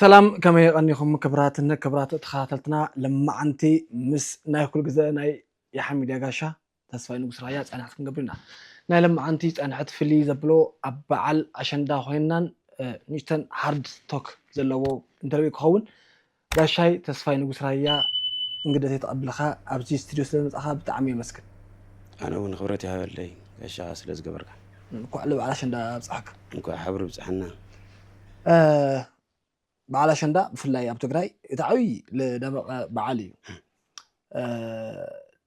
ሰላም ከመይ ቀኒኹም ክብራትን ክብራት ተኸታተልትና ለማዓንቲ ምስ ናይ ኩል ግዘ ናይ ያሓ ሚድያ ጋሻ ተስፋይ ንጉስ ራያ ፃንሕት ክንገብር ኢና ናይ ለማዓንቲ ፃንሕት ፍልይ ዘብሎ ኣብ በዓል ኣሸንዳ ኮይናን ንእሽተን ሃርድ ቶክ ዘለዎ ኢንተርቪው ክኸውን ጋሻይ ተስፋይ ንጉስ ራያ እንግደተይ ተቀብልካ ኣብዚ ስትድዮ ስለ መጻካ ብጣዕሚ የመስግን። ኣነ ውን ክብረት ይሃበለይ ጋሻኻ ስለ ዝገበርካ። እንኳዕ ልበዓል ኣሸንዳ ኣብፀሐካ። እንኳዕ ሓብሪ ብፅሐና። በዓል ኣሸንዳ ብፍላይ ኣብ ትግራይ እቲ ዓብይ ልደመቐ በዓል እዩ።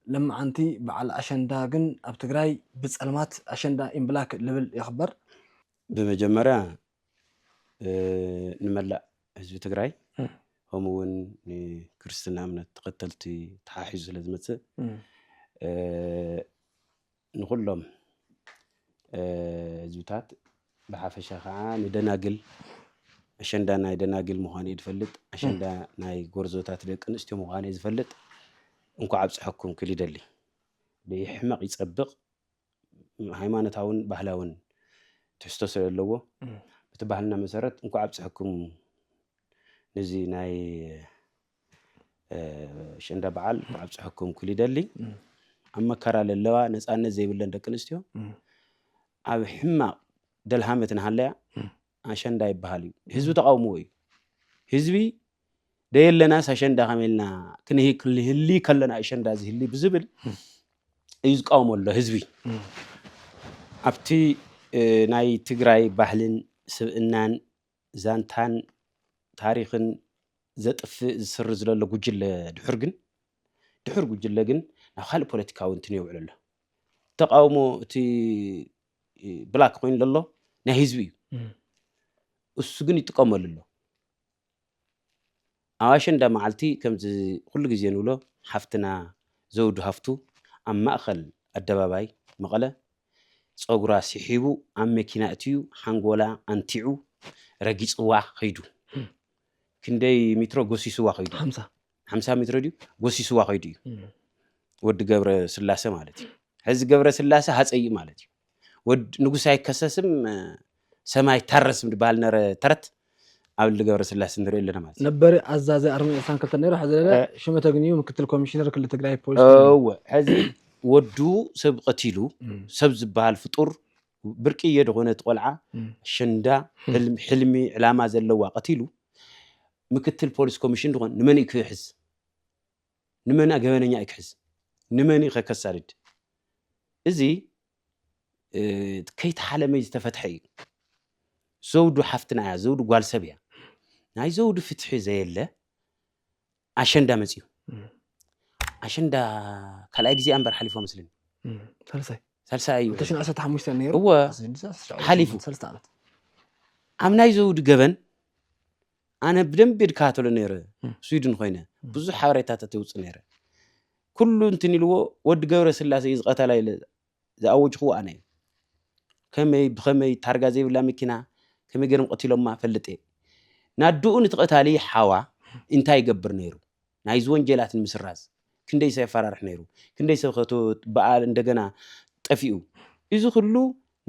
ልመዓንቲ በዓል ኣሸንዳ ግን ኣብ ትግራይ ብፀልማት ኣሸንዳ ኢንብላክ ልብል ይኽበር። ብመጀመርያ ንመላእ ህዝቢ ትግራይ ከምኡ እውን ንክርስትና እምነት ተኸተልቲ ተሓሒዙ ስለ ዝመፅእ ንኩሎም ህዝብታት ብሓፈሻ ከዓ ንደናግል ኣሸንዳ ናይ ደናግል ምዃኑ እዩ ዝፈልጥ ኣሸንዳ ናይ ጎርዞታት ደቂ ኣንስትዮ ምዃኑ እዩ ዝፈልጥ እንኳዕ ኣብፀሐኩም ክል ይደሊ ብሕመቕ ይፀብቕ ሃይማኖታውን ባህላውን ትሕዝቶ ስለ ዘለዎ እቲ ባህልና መሰረት እንኳ ኣብፅሐኩም ነዚ ናይ ሸንዳ በዓል እንኳ ኣብፅሐኩም ክል ይደሊ ኣብ መከራ ለለዋ ነፃነት ዘይብለን ደቂ ኣንስትዮ ኣብ ሕማቕ ደልሃመት ንሃለያ ኣሸንዳ ይበሃል እዩ ህዝቢ ተቓውምዎ እዩ ህዝቢ ደየለናስ ኣሸንዳ ከመይ ኢልና ክንህሊ ከለና ኣሸንዳ ዝህሊ ብዝብል እዩ ዝቃወሞ ኣሎ ህዝቢ ኣብቲ ናይ ትግራይ ባህልን ስብእናን ዛንታን ታሪክን ዘጥፍእ ዝስር ዝለሎ ጉጅለ ድሑር ግን ድሑር ጉጅለ ግን ናብ ካልእ ፖለቲካዊ እንትን የውዕል ኣሎ ተቃውሞ እቲ ብላክ ኮይኑ ለሎ ናይ ህዝቢ እዩ እሱ ግን ይጥቀመሉ ኣሎ ኣብ ኣሸንዳ መዓልቲ ከምዚ ኩሉ ግዜ ንብሎ ሓፍትና ዘውዱ ሃፍቱ ኣብ ማእኸል ኣደባባይ መቐለ ፀጉራ ስሒቡ ኣብ መኪና እትዩ ሓንጎላ ኣንቲዑ ረጊፅዋ ከይዱ ክንደይ ሚትሮ ጎሲስዋ ከይዱ ሓምሳ ሜትሮ ድዩ ጎሲስዋ ከይዱ እዩ ወዲ ገብረ ስላሰ ማለት እዩ ሕዚ ገብረ ስላሰ ሃፀይ ማለት እዩ ወድ ንጉስ ኣይከሰስም ሰማይ ታረስም ዝበሃል ነረ ተረት ኣብ ልሊ ገብረ ስላሰ ንሪኦ ኣለና ማለት እዩ ነበር ኣዛዚ ኣርሚ ዕስራን ክልተን ነይሩ ሕዚ ደለ ሽመ ተግንዩ ምክትል ኮሚሽነር ክልል ትግራይ ፖሊስ እወ ሕዚ ወዱ ሰብ ቀቲሉ ሰብ ዝበሃል ፍጡር ብርቅየ ዝኾነት ቆልዓ ሸንዳ ሕልሚ ዕላማ ዘለዋ ቀቲሉ ምክትል ፖሊስ ኮሚሽን ድኾን ንመን'ዩ ክሕዝ? ንመን'ያ ገበነኛ'ዩ ክሕዝ? ንመን'ዩ ከከሳድድ? እዚ ከይተሓለመይ ዝተፈትሐ እዩ። ዘውዱ ሓፍትና እያ፣ ዘውዱ ጓል ሰብ እያ። ናይ ዘውዱ ፍትሒ ዘየለ ኣሸንዳ መፅዩ። ኣሸንዳ ካልኣይ ግዜኣ እምበር ሓሊፎ መስለኒ። ሳልሳይ ሳልሳይ እዩ ሽዱሽተ ዓሰርተ ሓሙሽተ ነይሩ እወ ሓሊፉ ሰለስተ ዓመት ኣብ ናይ ዘውዲ ገበን ኣነ ብደንቢ ድከታተሎ ነይረ ስዊድን ኮይነ ብዙሕ ሓበሬታታት የውፅ ነይረ ኩሉ እንትን ኢልዎ ወዲ ገብረ ስላሴ እዩ ዝቐተላ ኢለ ዝኣወጅኽዎ ኣነ እዩ ከመይ ብኸመይ ታርጋ ዘይብላ መኪና ከመይ ገይሮም ቀቲሎማ ፈልጥ እየ ናድኡ ንትቐታሊ ሓዋ እንታይ ይገብር ነይሩ ናይዚ ወንጀላት ንምስራዝ ክንደይ ሰብ የፋራርሕ ነይሩ ክንደይ ሰብ ከ ብኣ እንደገና ጠፊኡ እዚ ኩሉ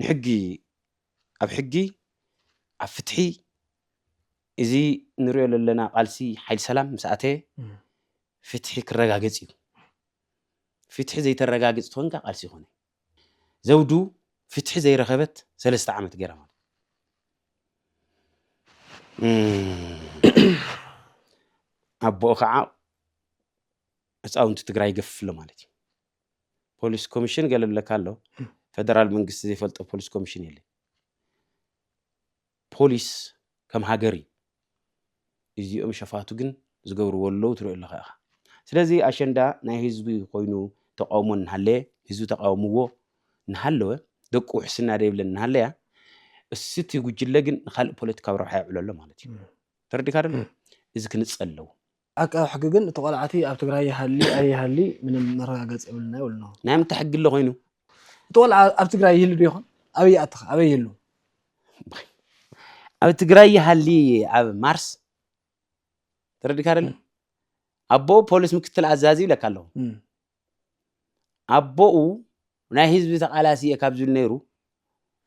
ንሕጊ ኣብ ሕጊ ኣብ ፍትሒ እዚ ንሪኦ ዘለና ቃልሲ ሓይል ሰላም ምስ ኣተየ ፍትሒ ክረጋገጽ እዩ ፍትሒ ዘይተረጋግጽ ትኾንካ ቃልሲ ይኾነ ዘውዱ ፍትሒ ዘይረኸበት ሰለስተ ዓመት ገይራ ማለት ኣቦኡ ከዓ ህፃውንቲ ትግራይ ገፍፍሎ ማለት እዩ ፖሊስ ኮሚሽን ገለብለካ ኣሎ ፈደራል መንግስቲ ዘይፈልጦ ፖሊስ ኮሚሽን የለ ፖሊስ ከም ሃገር እዩ እዚኦም ሸፋቱ ግን ዝገብርዎ ኣለዉ ትሪኦ ኣለኻ ኢኻ ስለዚ ኣሸንዳ ናይ ህዝቢ ኮይኑ ተቃውሞ እናሃለየ ህዝቢ ተቃውምዎ እናሃለወ ደቂ ውሕስና ደይብለን እናሃለያ እስቲ ጉጅለ ግን ንካልእ ፖለቲካዊ ረብሓ የውዕሎ ኣሎ ማለት እዩ ተረዲካ ደሎ እዚ ክንጸል ኣለዎ ዓቃቢ ሕጊ ግን እቲ ቆልዓ እቲ ኣብ ትግራይ ይሃሊ ኣይሃሊ ምንም መረጋገፂ የብልናይ ይብሉ ኣለዉ። ናይ ምንታይ ሕጊ ኣሎ ኮይኑ? እቲ ቆልዓ ኣብ ትግራይ ይህሉ ዶ ይኾን? ኣበይ ይኣቲ ከ? ኣበይ ይህሉ? ኣብ ትግራይ ይሃሊ ኣብ ማርስ ተረዲካ ደለ ኣቦ ፖሊስ ምክትል ኣዛዚ ይብለካ ኣለኹ እም። ኣቦኡ ናይ ህዝቢ ተቃላሲ እየ ካብ ዝብል ነይሩ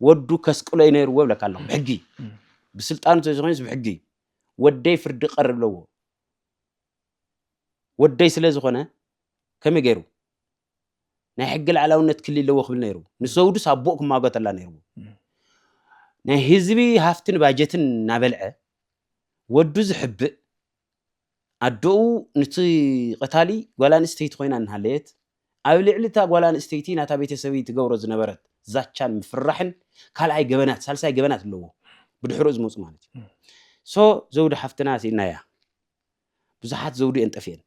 ወዱ ከስቅሎ እዩ ነይርዎ ይብለካ ኣለኹ ብሕጊ ብስልጣኑ ተዘኮይኑስ ብሕጊ ወደይ ፍርዲ ቀርብ ኣለዎ ወደይ ስለ ዝኾነ ከመይ ገይሩ ናይ ሕጊ ላዕላውነት ክሊ ኣለዎ ክብል ነይሩ ንሰውዱስ ኣቦኡ ክማጎተላ ነይርዎ ናይ ህዝቢ ሃፍትን ባጀትን እናበልዐ ወዱ ዝሕብእ ኣደኡ ኑቲ ቐታሊ ጓል ኣንስተይቲ ኮይና እናሃለየት፣ ኣብ ልዕሊ እታ ጓል ኣንስተይቲ ናታ ቤተሰብይ ትገብሮ ዝነበረት ዛቻን ምፍርራሕን ካልኣይ ገበናት ሳልሳይ ገበናት ኣለዎ ብድሕርኡ ዝመጹ ማለት እዩ። so ዘውዲ ሓፍትና ሲኢናያ ብዙሓት ዘውዲ እየን ጠፊኤን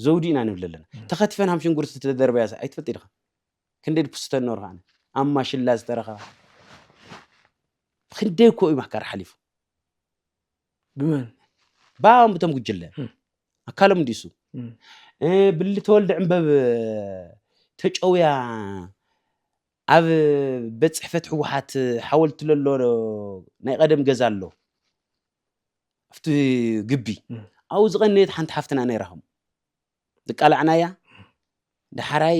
ዘውዲ ኢና ንብል ኣለና ተኸቲፈን ሃም ሽንጉርቲ ተደርበያስ ኣይትፈልጥ ኢኻ ክንደይ ድኩስተን ኖርካ ኣነ ኣብ ማሽላ ዝተረኸባ ክንደይ እኮ እዩ ማሕካር ሓሊፉ ብመን ባም ብቶም ጉጅለ ኣካሎም እንዲሱ ብሊ ተወልደ ዕንበብ ተጨውያ ኣብ ቤት ፅሕፈት ህወሓት ሓወልቲ ለሎ ናይ ቀደም ገዛ ኣሎ ኣብቲ ግቢ ኣብኡ ዝቐነየት ሓንቲ ሓፍትና ነይራኹም ዝቃላዕናያ ዳሓራይ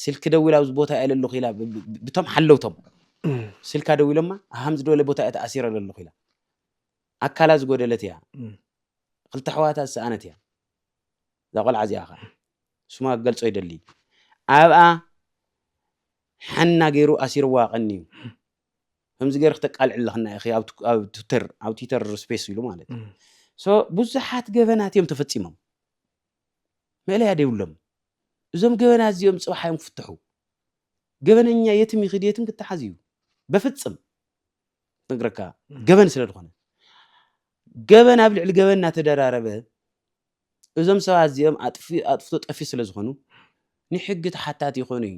ስልኪ ደዊላ ኣብዚ ቦታ እየ ለለኹ ኢላ ብቶም ሓለውቶም ስልካ ደዊሎማ ሃም ዝበለ ቦታ እየ ተኣሲረ ለለኹ ኢላ ኣካላ ዝጎደለት እያ ክልተ ኣሕዋታ ዝሰኣነት እያ እዛ ቆልዓ እዚኣ ከዓ ስማ ክገልፆ ይደሊ ኣብኣ ሓና ገይሩ ኣሲርዋ ቀኒ እዩ ከምዚ ገርኪ ተቃልዕ ኣለክና ኢኪ ኣብ ትዊተር ኣብ ትዊተር ስፔስ ኢሉ ማለት እዩ ሶ ብዙሓት ገበናት እዮም ተፈጺሞም መእለያ ደይብሎም እዞም ገበና እዚኦም ጽባሕ እዮም ክፍትሑ ገበነኛ የትም ይኽድ የትም ክተሓዝ እዩ በፍጽም ነግረካ ገበን ስለ ዝኾነ ገበን ኣብ ልዕሊ ገበን እናተደራረበ እዞም ሰባት እዚኦም ኣጥፍቶ ጠፊ ስለ ዝኾኑ ንሕጊ ተሓታቲ ይኾኑ እዩ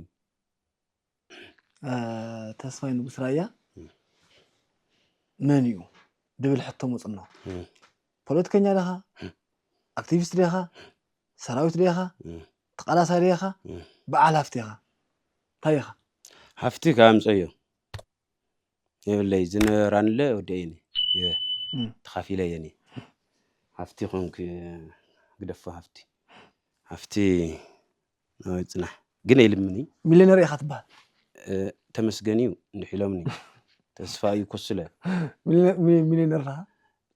ተስፋይ ንጉስ ራያ መን እዩ ድብል ሕቶ መፅኖ ፖለቲከኛ ደኻ ኣክቲቪስት ደኻ ሰራዊት ደኻ ተቃላሳይ ደኻ በዓል ሃፍቲ ኻ እንታይ ኢኻ ሃፍቲ ካብ ኣምፀዮ የብለይ ዝነራንለ ወደይኒ ተኻፊለ የኒ ሃፍቲ ኮንክ ግደፎ ሃፍቲ ሃፍቲ ጽናሕ ግን ኣይልምን እዩ ሚሊዮነር ኢኻ ትበሃል እ፣ ተመስገን እዩ እንድሕ ኢሎምኒ ተስፋ እዩ ኮስለ ሚሊዮነ- ሚ- ሚሊዮነር ዳኻ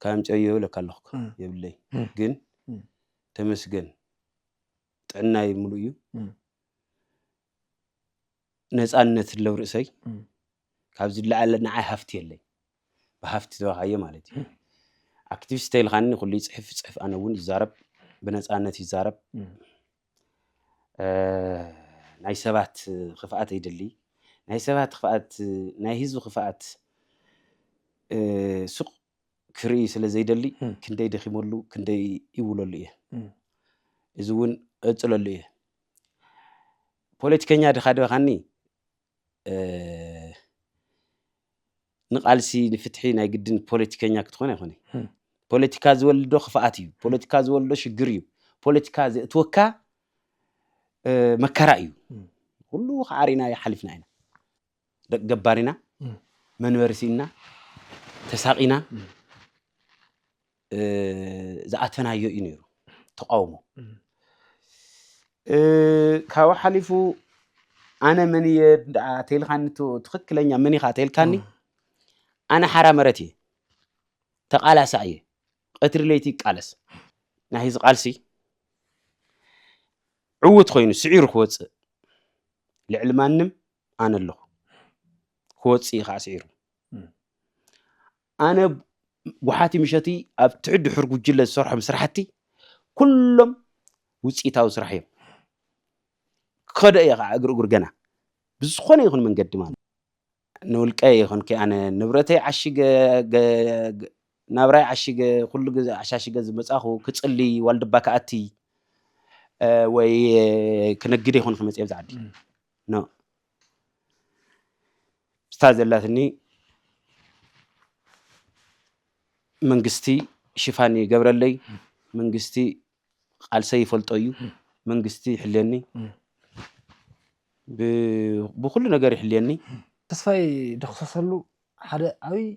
ካብ ምጨዮ ይብለካ ኣለኹ እኮ፣ እ። የብለይ እ። ግን እ። ተመስገን ጥዕናይ ምሉእ እዩ እ። ነፃነት ለው ርእሰይ ካብ ዝለዓለ ንዓይ ሃፍቲ የለይ ብሃፍቲ ተባካየ ማለት እዩ ኣክቲቪስት ተይልካኒ ኩሉ ይፅሕፍ ፅሕፍ ኣነ እውን ይዛረብ ብነፃነት ይዛረብ ናይ ሰባት ክፍኣት ይድሊ ናይ ሰባት ክፍኣት ናይ ህዝቢ ክፍኣት ሱቅ ክርኢ ስለ ዘይደሊ ክንደይ ደኺመሉ ክንደይ ይውለሉ እየ እዚ እውን ቀፅለሉ እየ ፖለቲከኛ ድኻ ዶ ኢኻኒ ንቃልሲ ንፍትሒ ናይ ግድን ፖለቲከኛ ክትኾን ኣይኮነይ ፖለቲካ ዝወልዶ ክፍኣት እዩ ፖለቲካ ዝወልዶ ሽግር እዩ ፖለቲካ ዘእትወካ መከራ እዩ ኩሉ ከዓሪና ሓሊፍና ኢና ደቂ ገባሪና መንበሪ ስኢንና ተሳቂና ዝኣተናዮ እዩ ነይሩ ተቃውሞ ካብኡ ሓሊፉ ኣነ መን እየ ተልካኒ ትክክለኛ መን ኢካ ተልካኒ ኣነ ሓራ መረት እየ ተቃላሳ እየ ቀትሪ ለይቲ ይቃለስ ናይ ህዚ ቃልሲ ዕውት ኮይኑ ስዒሩ ክወፅእ ልዕሊ ማንም ኣነ ኣለኹ ክወፅእ እዩ ከዓ ስዒሩ ኣነ ጓሓቲ ምሸትይ ኣብ ትሕት ድሑር ጉጅለ ዝሰርሖም ስራሕቲ ኩሎም ውፅኢታዊ ስራሕ እዮም። ክኸዶ እየ ከዓ እግር እግር ገና ብዝኾነ ይኹን መንገዲ ማለት ንውልቀ ይኹን ከ ኣነ ንብረተይ ዓሽገ ናብራይ ዓሽገ ኩሉ ግዜ ዓሻሽገ ዝመፃኹ ክፅሊ ዋልድባ ክኣቲ ወይ ክንግድ ይኹን ክመፅእ ኣብዚ ዓዲ ምስታ ዘላትኒ መንግስቲ ሽፋን ይገብረለይ፣ መንግስቲ ቃልሰ ይፈልጦ እዩ፣ መንግስቲ ይሕልየኒ፣ ብኩሉ ነገር ይሕልየኒ። ተስፋይ ደኩሰሰሉ ሓደ ዓብይ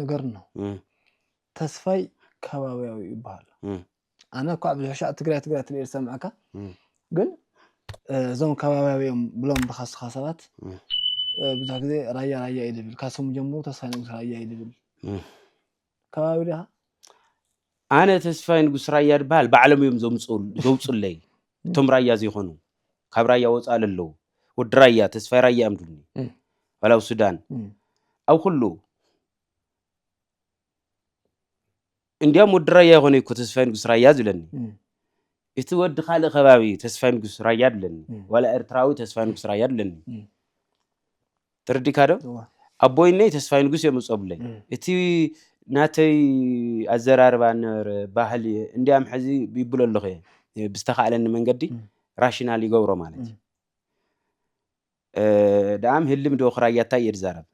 ነገር ነው ተስፋይ ከባቢያዊ ይበሃል ኣነ እኳ ኣብ ሕሻዕ ትግራይ ትግራይ ትል ዝሰምዐካ ግን እዞም ከባቢያዊ እዮም ብሎም ብካስኻ ሰባት ብዙሕ ግዜ ራያ ራያ እዩ ዝብል ካብ ስሙ ጀምሩ ተስፋይ ንጉስ ራያ እዩ ዝብል ከባቢ ዲኻ ኣነ ተስፋይ ንጉስ ራያ ድበሃል ባዕሎም እዮም ዘውፁለይ እቶም ራያ ዘይኮኑ ካብ ራያ ወፃእ ለለዉ ወዲ ራያ ተስፋይ ራያ እዮም ድሉኒ ዋላ ኣብ ሱዳን ኣብ ኩሉ እንዲያም ወዲ ራያ ይኾነ እኮ ተስፋይ ንጉስ ራያ ዝብለኒ እቲ ወዲ ካልእ ከባቢ ተስፋይ ንጉስ ራያ ድለኒ ዋላ ኤርትራዊ ተስፋይ ንጉስ ራያ ድለኒ ተረዲእካ ዶ? እወ። ኣቦይነይ ተስፋይ ንጉስ እዮም ዝጸቡለይ። እም። እቲ ናተይ ኣዘራርባ ነበረ ባህሊ እንድያም ሕዚ ይብሎ ኣለኹ እየ። ብዝተኻእለኒ መንገዲ እም። ራሽናል ይገብሮ ማለት እዩ። እም። ደኣም ህልም ዶ ክራያታይ እየ ዝዛረብ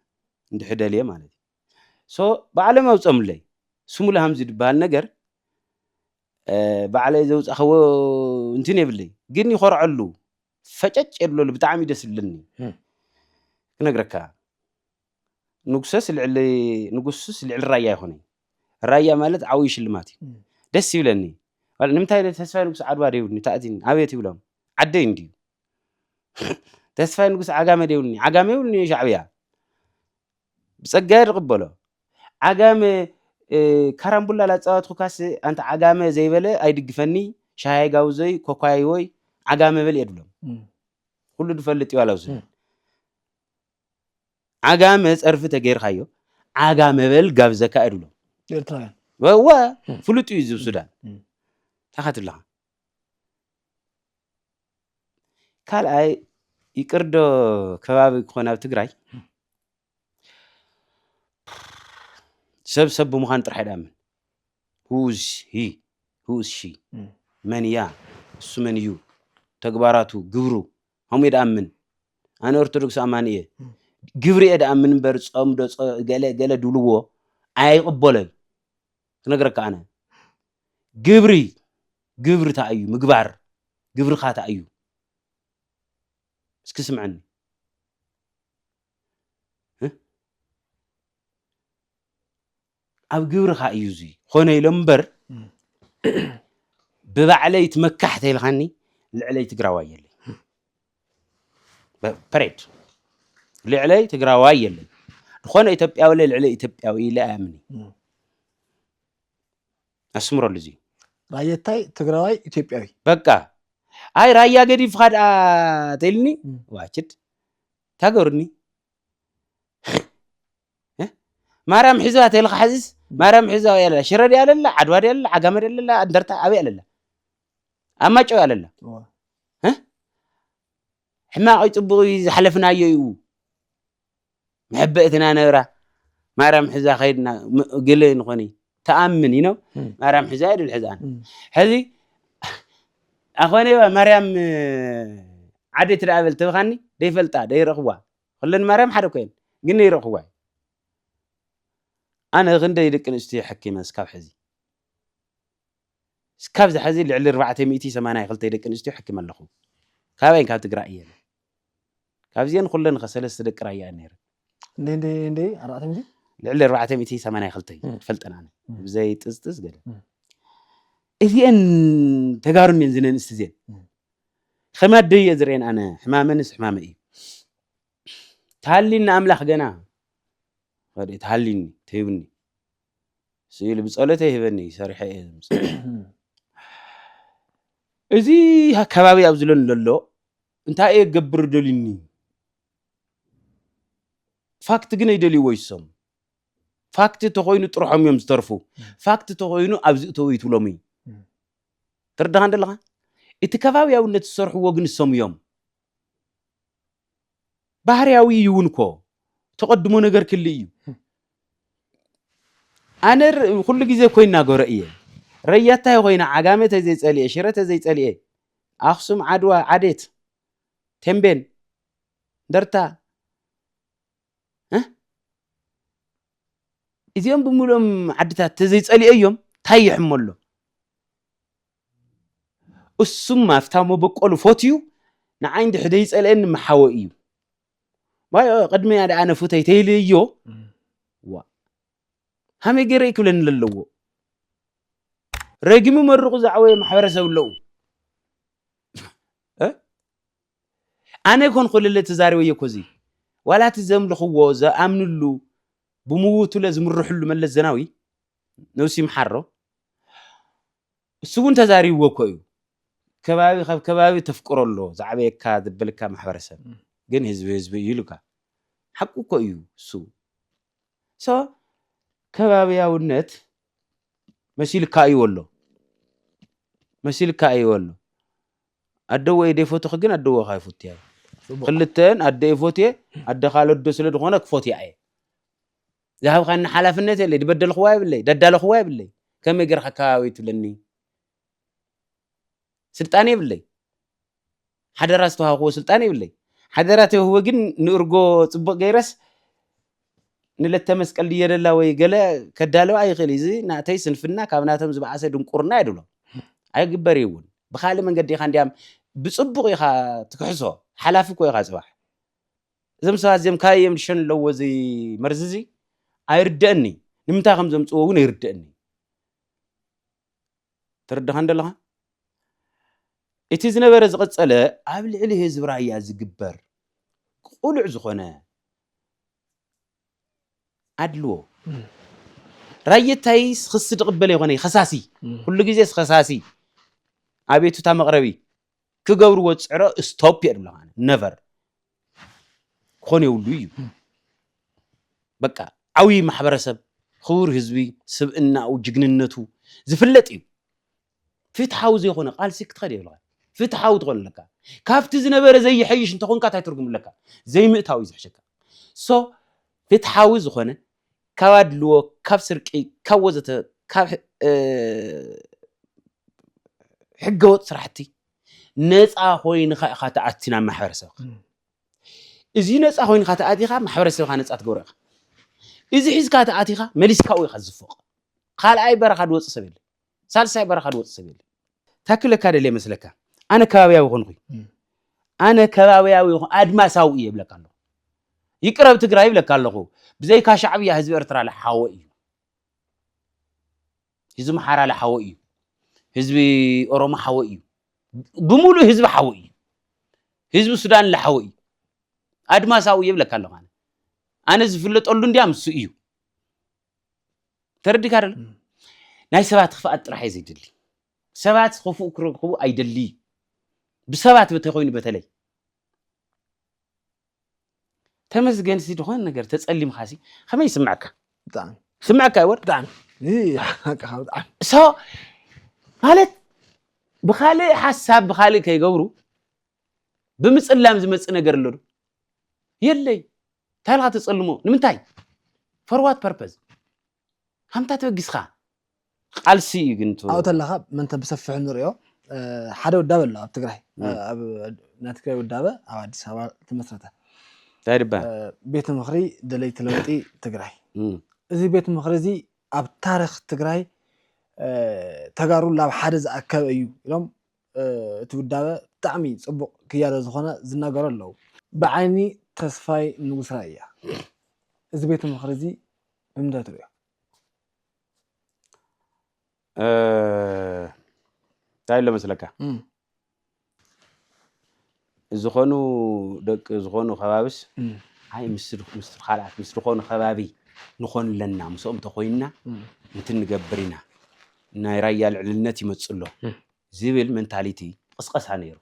እንድሕር ደልየ ማለት እዩ። ሶ ባዕሎም ኣውጸሙለይ። ስሙል ሃምዚ ድበሃል ነገር ባዕለይ ዘውጻኹዎ እንትን የብለይ። ግን ይኾርዐሉ። ፈጨጭ የብለሉ ብጣዕሚ ደስ ዝብለኒ ክነግረካ ንጉሰስ ልዕሊ ንጉስስ ልዕሊ ራያ ኣይኮነይ ራያ ማለት ዓብይ ሽልማት እዩ ደስ ይብለኒ ንምንታይ ተስፋይ ንጉስ ዓድዋ ደይብልኒ ታእዚኒ ኣቤት ይብሎም ዓደይ እንድዩ ተስፋይ ንጉስ ዓጋመ ደይብልኒ ዓጋመ ይብልኒ ሻዕብያ ብጸጋ'የ ዝቕበሎ። ዓጋመ ካራምቡላ ላጻወትኩካስ ኣንታ ዓጋመ ዘይበለ ኣይድግፈኒ ሻሃይ ጋውዞይ ኮኳይዎይ ዓጋመ በል'የ ድብሎም። ኩሉ ድፈልጥ'ዩ ዋላ ውስን ዓጋመ ጸርፊ ተገይርካዮ ዓጋመ በል ጋብዘካ'የ ድብሎም። ኤርትራውያን እወ ፍሉጥ እዩ ዝብ ሱዳን እንታይ ትብለኻ ካልኣይ ይቅርዶ ከባቢ ክኾን ኣብ ትግራይ ሰብ ሰብ ብምዃን ጥራሕ ይዳምን ሁዝ ሂ ሁዝ ሺ መን እያ እሱ መን እዩ ተግባራቱ ግብሩ ከምኡ እዩ ድኣምን ኣነ ኦርቶዶክስ ኣማኒ እየ ግብሪ እየ ድኣምን እምበር ፆም ዶ ገለ ገለ ድብልዎ ኣይቕበሎን ክነግረካ ኣነ ግብሪ ግብሪ እንታይ እዩ ምግባር ግብርኻ እንታይ እዩ እስኪ ስምዐኒ ኣብ ግብርኻ እዩ እዚ ኾነ ኢሎ እምበር ብባዕለይ ትመካሕ ተይልኻኒ ልዕለይ ትግራዋይ የለይ ፐሬድ ልዕለይ ትግራዋይ የለን ዝኾነ ኢትዮጵያዊ ለ ልዕሊ ኢትዮጵያዊ ኢለ ኣያምን እዩ ኣስምረሉ እዚ ራየታይ ትግራዋይ ኢትዮጵያዊ በቃ ኣይ ራያ ገዲፍካ ድኣ ተኢልኒ እም። ዋችድ ታገሩኒ እ? ማርያም ሒዛ ተልካ ሓዚስ ማርያም ሒዛ ኣበይ ኣለላ ሽረ ድያ ኣለላ ዓድዋ ድያ ኣለላ ዓጋመ ድያ ኣለላ እንደርታ ኣበይ ኣለላ ኣብ ማጨው ኣለላ ሕማቕ ፅቡቕ ዝሓለፍናዮ እዩ መሕበእትና ነብራ ማርያም ሕዛ ከይድና ግል ንኾኒ ተኣምን ይኖ ማርያም ሕዛ የድል ሕዛን ሕዚ ኣኾነ ማርያም ዓደ ትደኣ በል ተብኻኒ ደይፈልጣ ደይረኽቧ ኩለን ማርያም ሓደ ኮይን ግን ደይረኽቧ ኣነ ክንደይ ደቂ ኣንስትዮ ሕኪመ ስካብ ሕዚ እስካብ እዚ ሐዚ ልዕሊ ኣርባዕተ ሚእቲ ሰማንያ ክልተ ደቂ ኣንስትዮ ሐኪመ ኣለኹ። ካበይን ካብ ትግራይ እየን። ካብዚኤን ኹለን ኸ ሰለስተ ደቂ ራያ እየን ነይረን። ክንደይ ክንደይ ክንደይ ኣርባዕተ ሚእቲ? ልዕሊ ኣርባዕተ ሚእቲ ሰማንያ ክልተ እዩ ዝፈልጠን ኣነ ብዘይ ጥዝጥዝ ገለ። እዚኤን ተጋሩ እንድየን እዘን ኣንስቲ እዚኤን። ኸም ኣደይ እየ ዝርእየን ኣነ ሕማመንስ ሕማመይ እዩ። ተሃሊኒ ኣምላኽ ገና ተሃሊኒ ተይቡኒ። ስኢሉ ብጸሎተይ ይህበኒ ሰሪሐ እየ እዚ ከባቢ ኣብ ዝለን ዘሎ እንታይ እየ ገብር ደልኒ ፋክት ግን ኣይደልይዎ ይሶም ፋክት ተኮይኑ ጥርሖም እዮም ዝተርፉ ፋክት ተኮይኑ ኣብዚ እተው ይትብሎም እዩ ትርዳኻ እንደለኻ እቲ ከባብያውነት ዝሰርሕዎ ግን እሶም እዮም ባህርያዊ እዩ እውን እኮ ተቐድሞ ነገር ክል እዩ ኣነ ኩሉ ግዜ እኮ ይናገሮ እየ ረያታይ ኮይነ ዓጋመ ተዘይፀልኤ ሽረ ተዘይፀልኤ ኣክሱም ዓድዋ ዓዴት ቴምቤን እንደርታ እዚኦም ብምሉኦም ዓድታት ተዘይፀልኤ እዮም ታይ ይሕመሎ እሱም ኣፍታ መበቆሉ ፎትዩ ንዓይ እንድሕ ዘይጸልኤኒ ምሓወ እዩ ዋዮ ቅድሚያ ደኣ ኣነ ፉተይ ተይልዮ ዋ ሃመይ ገይረ ክብለኒ ለለዎ ረጊሙ መርቑ ዝዓወየ ማሕበረሰብ ኣለዉ ኣነ ኮን ኩልለ ተዛሪበዮ ኮዚ ዋላ እቲ ዘምልኽዎ ዘኣምንሉ ብምውቱለ ዝምርሕሉ መለስ ዘናዊ ነብሲ ምሓሮ እሱ እውን ተዛሪብዎ እኮ እዩ ከባቢ ካብ ከባቢ ተፍቅሮ ኣሎ ዝዓበየካ ዘበልካ ማሕበረሰብ ግን ህዝቢ ህዝቢ እዩ ኢሉካ ሓቁ እኮ እዩ እሱ ሶ ከባቢያውነት መሲልካ እዩ ኣሎ መሲልካ እዩ ኣሎ ኣደወ ኢደ ይፈትኽ ግን ኣደወ ካይ ፉትያ እዩ ክልተን ኣደ ይፎትየ ኣደ ካልዶ ስለ ዝኾነ ክፎትያ እየ ዝሃብካኒ ሓላፍነት የለይ ድበደልክዋ የብለይ ዳዳለክዋ የብለይ ከመይ ገርካ ከባበይ ትብለኒ ስልጣን የብለይ ሓደራ ዝተዋሃብክዎ ስልጣን የብለይ ሓደራ ተውህቦ ግን ንእርጎ ፅቡቅ ገይረስ ንለተ መስቀል ድየደላ ወይ ገለ ከዳለዋ ኣይኽእል እዚ ናተይ ስንፍና ካብ ናቶም ዝበኣሰ ድንቁርና የድሎ ኣይግበር እዩ እውን ብካልእ መንገዲ ኢኻ እንዲያም ብፅቡቕ ኢኻ ትክሕሶ ሓላፊ እኮ ኢኻ ፅባሕ እዞም ሰባት እዚኦም ካበይ እዮም ዝሸኑ ኣለዎ እዚ መርዚ እዚ ኣይርደእኒ ንምንታይ ከም ዘምፅዎ እውን ኣይርደእኒ ተረድኻን ደለኻ እቲ ዝነበረ ዝቐፀለ ኣብ ልዕሊ ህዝቢ ራያ ዝግበር ቁሉዕ ዝኾነ ኣድልዎ ራየታይ ክሲ ድቕበለ ይኾነ ከሳሲ ኩሉ ግዜ ከሳሲ ኣቤቱታ መቕረቢ ክገብርዎ ዝፅዕሮ ስቶፕ የብሉ ኣነ ነቨር ክኾን የብሉ እዩ በቃ ዓብዪ ማሕበረሰብ ክቡር ህዝቢ ስብእናኡ ጅግንነቱ ዝፍለጥ እዩ ፍትሓዊ ዘይኮነ ቃልሲ ክትኸድ የብልካ ፍትሓዊ ትኾን ኣለካ ካብቲ ዝነበረ ዘይሐይሽ እንተኾንካ እንታይ ትርጉም ኣለካ ዘይምእታው እዩ ዝሕሸካ ሶ ፍትሓዊ ዝኾነ ካብ ኣድልዎ ካብ ስርቂ ካብ ወዘተ ካብ ሕገወጥ ስራሕቲ ነፃ ኮይንካ ኢኻ ተኣቲ ናብ ማሕበረሰብካ እዚ ነፃ ኮይንካ ተኣቲኻ ማሕበረሰብካ ነፃ ትገብሮ ኢኻ እዚ ሒዝካ ተኣቲኻ መሊስካ ኢኻ ዝፎቕ ካልኣይ በረኻ ዝወፅእ ሰብ የለን ሳልሳይ በረኻ ዝወፅ ሰብ የለን። ታክለ እካ ደልየ መስለካ ኣነ ከባብያዊ ኮንኹ ኣነ ከባብያዊ ኣድማሳዊ እየ ይብለካ ኣለኹ ይቅረብ ትግራይ ይብለካ ኣለኹ ብዘይካ ሻዕብያ ህዝቢ ኤርትራ ለሓወ እዩ ህዝቢ ምሓራ ለሓወ እዩ ህዝቢ ኦሮሞ ሓወ እዩ ብምሉእ ህዝቢ ሓወ እዩ ህዝቢ ሱዳን ለሓወ እዩ ኣድማሳዊ እየ ይብለካ ኣለኹ ኣነ ዝፍለጠሉ እንድያ ምሱ እዩ ተረዲካ ዶ ናይ ሰባት ክፍኣት ጥራሕ እዩ ዘይደሊ ሰባት ክፉእ ክረክቡ ኣይደሊ ብሰባት እንተኮይኑ በተለይ ተመስገን ሲ ዝኾነ ነገር ተጸሊምካ ሲ ከመይ ይስምዐካ ብጣዕሚ ስምዐካ ይወር ብጣዕሚ ሓቅኻ ብጣዕሚ ሶ ማለት ብካልእ ሓሳብ ብካልእ ከይገብሩ ብምፅላም ዝመፅእ ነገር ኣሎ ዶ? የለይ። እንታይ ኢልካ ተፀልሞ? ንምንታይ? ፈርዋት ፐርፐዝ ሃምታ ተበጊስኻ ቃልሲ እዩ ግን ኣብኡ ተለኻ መንተ ብሰፊሑ ንሪኦ ሓደ ውዳበ ኣሎ ኣብ ትግራይ ኣብ ናይ ትግራይ ውዳበ ኣብ ኣዲስ ኣበባ ተመስረተ እንታይ ድባ ቤት ምኽሪ ደለይቲ ለውጢ ትግራይ እዚ ቤት ምኽሪ እዚ ኣብ ታሪክ ትግራይ ተጋሩ ላብ ሓደ ዝኣከበ እዩ ኢሎም እቲ ውዳበ ብጣዕሚ ጽቡቅ ክያዶ ዝኮነ ዝናገሩ ኣለው። ብዓይኒ ተስፋይ ንጉስ ራያ እዚ ቤት ምኽሪ እዚ ብምንታይ ትርእዮ? እንታይ ኣሎ መስለካ? ዝኾኑ ደቂ ዝኾኑ ከባብስ ኣይ ምስ ምስ ካልኣት ምስ ዝኾኑ ከባቢ ንኾን ኣለና ምስኦም ተኾይንና ነቲ ንገብር ኢና ናይ ራያ ልዕልነት ይመጽእ ኣሎ ዝብል መንታሊቲ ቅስቀሳ ነይሩ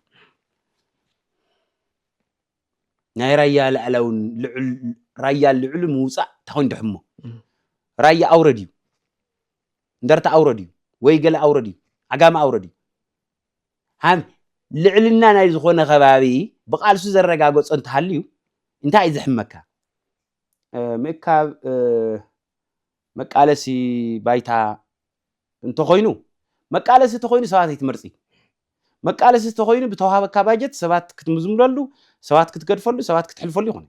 ናይ ራያ ልዕላውን ራያ ልዕሉ ምውፃእ ታኾይን ድሕሞ ራያ ኣውረድ እዩ እንደርታ ኣውረድ እዩ ወይ ገለ ኣውረድ እዩ ዓጋመ ኣውረድ እዩ ልዕልና ናይ ዝኾነ ከባቢ ብቃልሱ ዘረጋገፆ እንተሃልዩ እንታይ እዩ ዝሕመካ? ምእካብ መቃለሲ ባይታ እንተኾይኑ መቃለሲ እንተኾይኑ ሰባት ኣይትመርፂ መቃለሲ እንተኾይኑ ብተዋሃበካ ባጀት ሰባት ክትምዝምለሉ ሰባት ክትገድፈሉ ሰባት ክትሕልፈሉ ይኾነ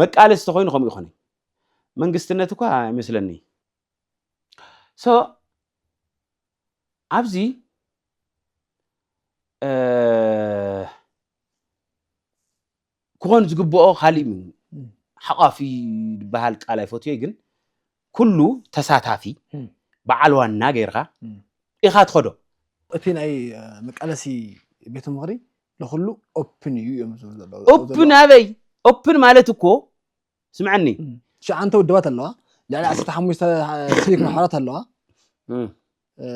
መቃለሲ እንተኾይኑ ከምኡ ይኾነ መንግስትነት እኳ ኣይመስለኒ ሶ ኣብዚ ክኾን ዝግብኦ ካሊእ ሓቋፊ ዝበሃል ቃል ኣይፈትዮ ግን ኩሉ ተሳታፊ በዓል ዋና ጌርካ ኢኻ ትኸዶ እቲ ናይ መቃለሲ ቤት ምኽሪ ንኩሉ ኦፕን እዩ እዮም ዝብሉ ዘለዉ ኦፕን ኣበይ ኦፕን ማለት እኮ ስምዐኒ ትሽዓንተ ውድባት ኣለዋ ልዕሊ ዓሰርተ ሓሙሽተ ሲቪክ ማሕበራት ኣለዋ እም፣ እ፣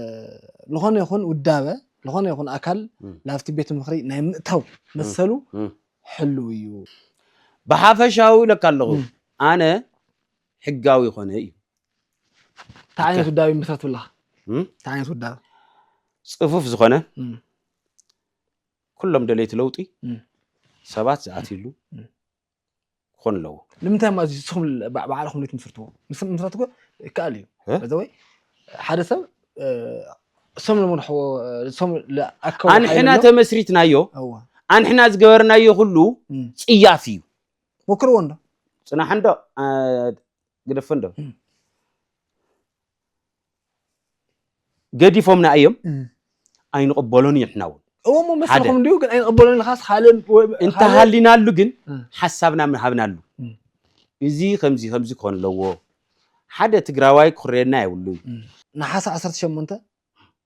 ዝኾነ ይኹን ውዳበ ዝኾነ ይኹን ኣካል እም። ናብቲ ቤት ምኽሪ ናይ ምእታው መሰሉ እም። ሕልው እዩ ብሓፈሻዊ ኢለካ ኣለኹ እም። ኣነ ሕጋዊ ኮነ እዩ እንታይ ዓይነት ውዳበ ይምስረት ብለኻ እም? እንታይ ዓይነት ውዳበ ፅፉፍ ዝኾነ እም፣ ኩሎም ደለይቲ ለውጢ እም። ሰባት ዝኣትይሉ እም። ክኾኑ ኣለዎ ንምንታይ እሞ ኣዚ ንስኹም ል- ባዕ- ባዕልኹም ዘይትምስርትዎ ምስ ምስራት እኮ ይከኣል እዩ እ? በዚ ወይ ሓደ ሰብ እ፣ እሶም ዝመርሕዎ እ፣ እሶም ዝኣከቡ ሓይሊ ኣንሕና ኣሎ። ተመስሪትናዮ እወ ኣንሕና ዝገበርናዮ ኩሉ እም። ፅያፍ እዩ ሞክርዎ እንዶ ፅናሕ እንዶ አ፣ ግደፎ እንዶ ገዲፎምና እዮም ኣይንቕበሎን እዩ ንሕና እውን እዎ እሞ መሰልኩም እንዲሁ ግን ኣይንቕበሎን ኢልካስ ካልእ እንተሃሊናሉ ግን ሓሳብና ምሃብናሉ እዚ ከምዚ ከምዚ ክኾን ኣለዎ ሓደ ትግራዋይ ክኩረየና የብሉን ነሓሰ ዓሰርተ ሸሞንተ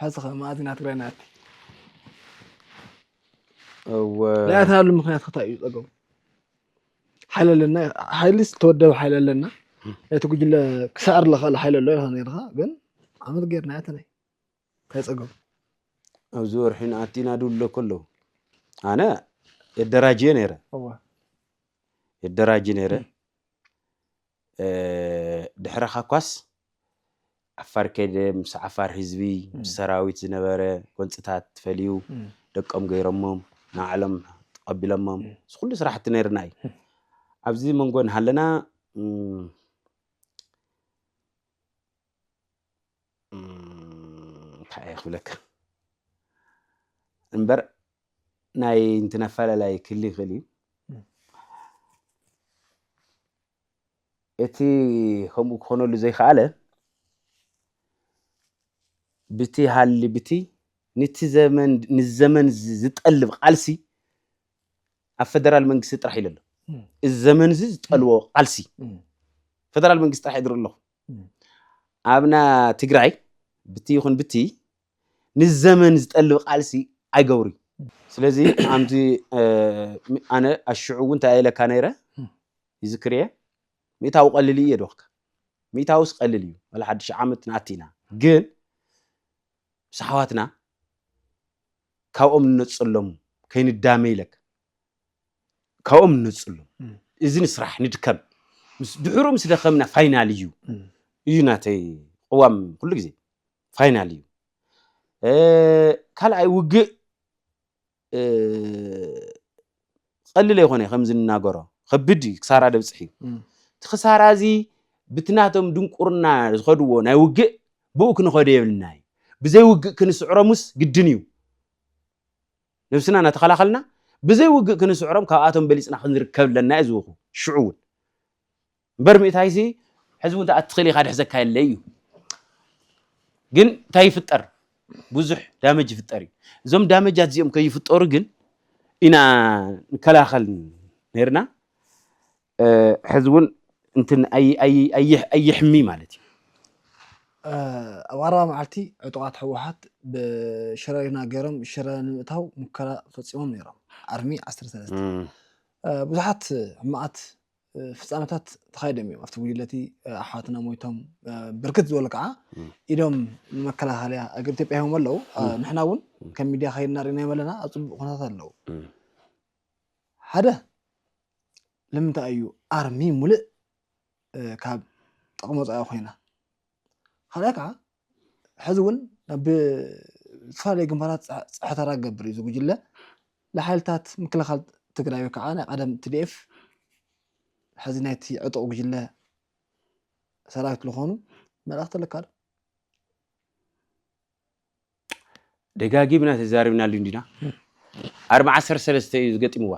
ሐዚ ከ መኣዝ ኢና ትግራይ ንኣቲ ዘይኣተናሉ ምክንያት ክታይ እዩ ፀገሙ ሓይሊ ኣለና ሓይሊ ዝተወደበ ሓይሊ ኣለና ነቲ ጉጅለ ክሰዕር ዝኽእል ሓይሊ ኣሎ ኢልካ ነርካ ግን ዓመት ገይርና ያተናይ እንታይ ፀገሙ ኣብዚ ወርሒ ንኣቲ ኢና ድብሉ ኣለኩ ኣለዉ ኣነ የደራጅየ ነይረ የደራጅ ነይረ ድሕረኻ እኳስ ዓፋር ከይደ ምስ ዓፋር ህዝቢ ምስ ሰራዊት ዝነበረ ጎንፅታት ፈልዩ ደቆም ገይሮሞም ንባዕሎም ተቐቢሎሞም እዚ ኩሉ ስራሕቲ ነይርና እዩ ኣብዚ መንጎ እናሃለና እንታይ እየ ክብለካ እምበር ናይ እንትን ኣፈላላይ ክሊ ይኽእል እዩ እቲ ከምኡ ክኾነሉ ዘይከኣለ ብቲ ሃሊ ብቲ ንቲ ዘመን ንዘመን ዝጠልብ ቃልሲ ኣብ ፈደራል መንግስቲ ጥራሕ ኢለ ኣሎ እዚ ዘመን እዚ ዝጠልቦ ቃልሲ ፈደራል መንግስቲ ጥራሕ ይድር ኣለኹ ኣብና ትግራይ ብቲ ይኹን ብቲ ንዘመን ዝጠልብ ቃልሲ ኣይገብሩይ። ስለዚ ኣምቲ ኣነ ኣሽዑ እውን እንታይ ኢለካ ነይረ ይዝክር እየ ሚእታዊ ቀልል እዩ የድወኽካ ሚእታውስ ቀልል እዩ ወላ ሓድሽ ዓመት ንኣቲ ኢና ግን ምስ ኣሕዋትና ካብኦም ንነፅሎም ከይንዳመ ኢለካ ካብኦም ንነጽሉ እዚ ንስራሕ ንድከም ምስ ድሕሩ ምስ ደኸምና ፋይናል እዩ እዩ ናተይ ቅዋም ኩሉ ግዜ ፋይናል እዩ ካልኣይ ውግእ ቀሊል ኣይኮነ ከምዚ ንናገሮ ከብድ እዩ ክሳራ ደብፅሕ እዩ እቲ ክሳራ እዚ ብትናቶም ድንቁርና ዝኸድዎ ናይ ውግእ ብኡ ክንኸዶ የብልና እዩ ብዘይ ውግእ ክንስዕሮምስ ግድን እዩ ነብስና እናተኸላኸልና ብዘይ ውግእ ክንስዕሮም ካብኣቶም በሊጽና ክንርከብ ኣለና እየ ዝብኹ ሽዑ እውን እምበር ምእታይሲ ሕዚ እውን ተኣትኽእል ኢኻ ድሕዘካ የለ እዩ ግን እንታይ ይፍጠር ብዙሕ ዳመጅ ይፍጠር እዩ እዞም ዳመጃት እዚኦም ከይፍጠሩ ግን ኢና ንከላኸል ነርና ሕዚ እውን እንትን ኣይ- ኣይ- ኣይሕ- ኣይሕሚ ማለት እዩ። ኣብ ቀረባ መዓልቲ ዕጡቓት ህወሓት ብሽረሪና ገይሮም ሽረ ንምእታው ሙከራ ፈፂሞም ነይሮም፣ ኣርሚ ዓሰርተ ሰለስተ። ብዙሓት ሕማቓት ፍፃመታት ተኻይዶም እዮም። ኣብቲ ጉጅለ እቲ ኣሕዋትና ሞይቶም፣ ብርክት ዝበሉ ከዓ ኢዶም ንመከላኸልያ እግሪ ኢትዮጵያ ሂቦም ኣለው። ንሕና እውን ከም ሚድያ ከይድና ርኢናዮም ኣለና፣ ኣብ ፅቡቕ ኩነታት ኣለው። ሓደ ልምንታይ እዩ ኣርሚ ሙልእ ካብ ጥቕሚ ወፃኢ ኮይና? ካልኣይ ከዓ ሕዚ እውን ናብ ዝተፈላለዩ ግንባራት ፀሓት ክገብር እዩ እዚ ጉጅለ ንሓይልታት ምክልኻል ትግራይ ወይ ከዓ ናይ ቀደም ቲዲኤፍ ሕዚ ናይቲ ዕጡቕ ጉጅለ ሰራዊት ዝኾኑ መልእኽቲ ኣለካ ዶ? ደጋጊምና ተዛሪብናሉ እንዲና ኣርሚ ዓሰርተ ሰለስተ እዩ ዝገጢምዋ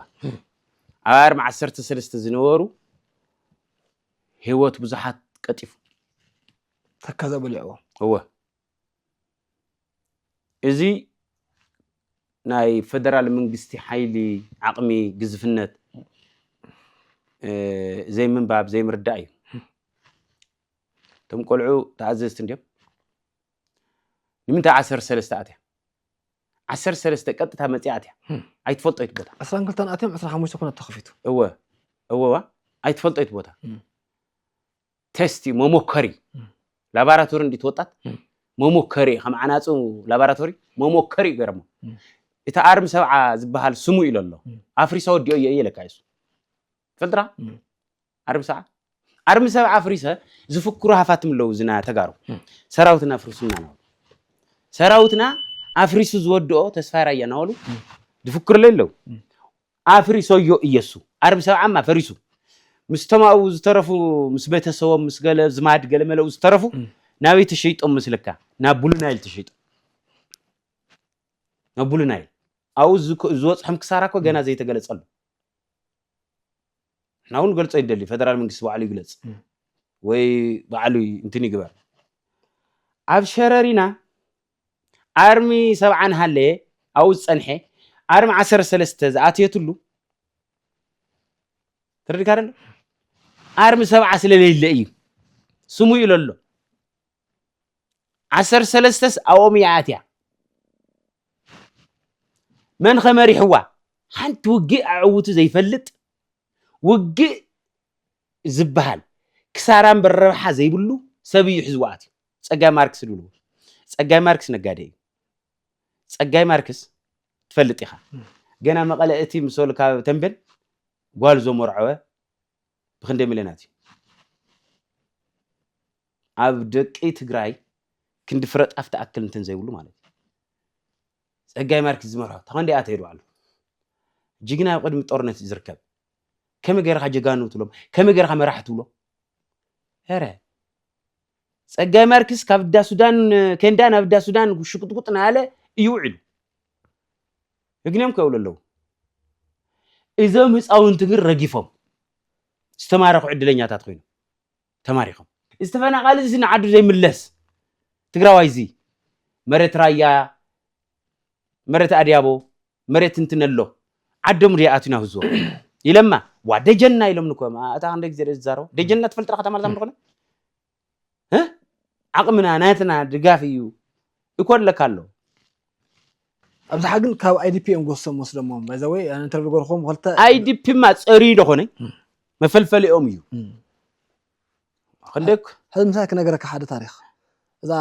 ኣብ ኣርሚ ዓሰርተ ሰለስተ ዝነበሩ ህይወት ብዙሓት ቀጢፉ ተካዘ በሊዕዎ እወ እዚ ናይ ፈደራል መንግስቲ ሓይሊ ዓቕሚ ግዝፍነት ዘይምንባብ ዘይምርዳእ እዩ እቶም ቆልዑ ተኣዘዝቲ እንዲዮም ንምንታይ ዓሰርተ ሰለስተ ኣትያ ዓሰርተ ሰለስተ ቀጥታ መፅያ ኣትያ ኣይትፈልጦ ይት ቦታ ዕስራን ክልተን ኣትዮም ዕስራ ሓሙሽተ ኩነት ተኸፊቱ እወ እወዋ ኣይትፈልጦ ይት ቦታ ቴስት እዩ መሞከሪ ላቦራቶሪ እንዲ ትወጣት መሞከሪ እዩ ከም ዓናፁ ላቦራቶሪ መሞከሪ እዩ ገረሞ እቲ ኣርሚ ሰብዓ ዝበሃል ስሙ ኢሎ ኣሎ ኣፍሪሳ ወዲኦ እየ እየ ለካ እሱ ትፈልጥራ ዓርቢ ሰብዓ ዓርቢ ሰብዓ ኣፍሪሰ ዝፍክሩ ሃፋትም ኣለዉ ዝና ተጋሩ ሰራዊትና ኣፍርሱና ናበሉ ሰራዊትና ኣፍሪሱ ዝወድኦ ተስፋ ራያ ናበሉ ዝፍክርለ ኣለዉ ኣፍሪሶዮ እየሱ ዓርቢ ሰብዓማ ፈሪሱ ምስቶም ኣብኡ ዝተረፉ ምስ ቤተሰቦም ምስ ገለ ዝማድ ገለ መለኡ ዝተረፉ ናበይ ተሸይጦም ምስልካ ናብ ቡሉናይል ተሸይጦም ናብ ቡሉናይል ኣብኡ ዝወፅሖም ክሳራ እኮ ገና ዘይተገለፀሉ ንሕና እውን ገልፆ ይደሊ ፈደራል መንግስቲ ባዕሉ ይግለፅ ወይ ባዕሉ እንትን ይግበር ኣብ ሸረሪና ኣርሚ ሰብዓን ሃለየ ኣብኡ ዝፀንሐ ኣርሚ ዓሰርተ ሰለስተ ዝኣትየትሉ ተረዲካ ኣሎ ኣርሚ ሰብዓ ስለለይለ እዩ ስሙ ኢሎ ኣሎ ዓሰርተ ሰለስተስ ኣብኦም እያ ኣትያ መን ከመሪሕዋ ሓንቲ ውግእ ኣዕውቱ ዘይፈልጥ ውግእ ዝበሃል ክሳራ እምበር ረብሓ ዘይብሉ ሰብ እዩ ሒዝዋ ኣትዩ ፀጋይ ማርክስ ድብልዎ ፀጋይ ማርክስ ነጋዴ እዩ ፀጋይ ማርክስ ትፈልጥ ኢኻ ገና መቐለ እቲ ምሰሉ ካብ ተንቤን ጓል ዘመርዐወ ብክንደይ ሚልዮናት እዩ ኣብ ደቂ ትግራይ ክንዲ ፍረ ጣፍ ትኣክል እንትን ዘይብሉ ማለት እዩ ፀጋይ ማርክስ ዝመርሖ ተኸንዲኣ ትሄዱ ኣሎ ጅግና ኣብ ቅድሚ ጦርነት እዩ ዝርከብ ከመይ ገይርካ ጀጋኑ ትብሎም ከመይ ገይርካ መራሒ ትብሎ ረ ጸጋይ ማርክስ ካብ እዳ ሱዳን ኬንዳ ናብ እዳ ሱዳን ሽቁጥቁጥ ናለ እዩ ውዒሉ ህግንዮም ከብሉ ኣለዉ እዞም ህፃውንቲ ግን ረጊፎም ዝተማረኹ ዕድለኛታት ኮይኑ ተማሪኾም እዚ ተፈናቃሊ እዚ ንዓዱ ዘይምለስ ትግራዋይ እዚ መሬት ራያ መሬት ኣድያቦ መሬት እንትነሎ ዓዶም ድያ ኣትዩ ናብ ህዝቦም ኢለማ ዋ ደጀና ኢሎም ንኮ እታ ክንደይ ግዜ ዝዛረቡ ደጀና ትፈልጥራ ከተማ ዛም ዝኾነ ዓቕምና ናትና ድጋፍ እዩ እኮ ኣለካ ኣሎ ኣብዝሓ ግን ካብ ኣይዲፒ እዮም ጎሶም ወስደሞም ባይዘወይ ኢንተርቪው ገርኹም ክልተ ኣይዲፒማ ፀርዩ ደኾነ መፈልፈሊኦም እዩ ክንደይ ሕዚ ምሳይ ክነገረካ ሓደ ታሪክ እዛ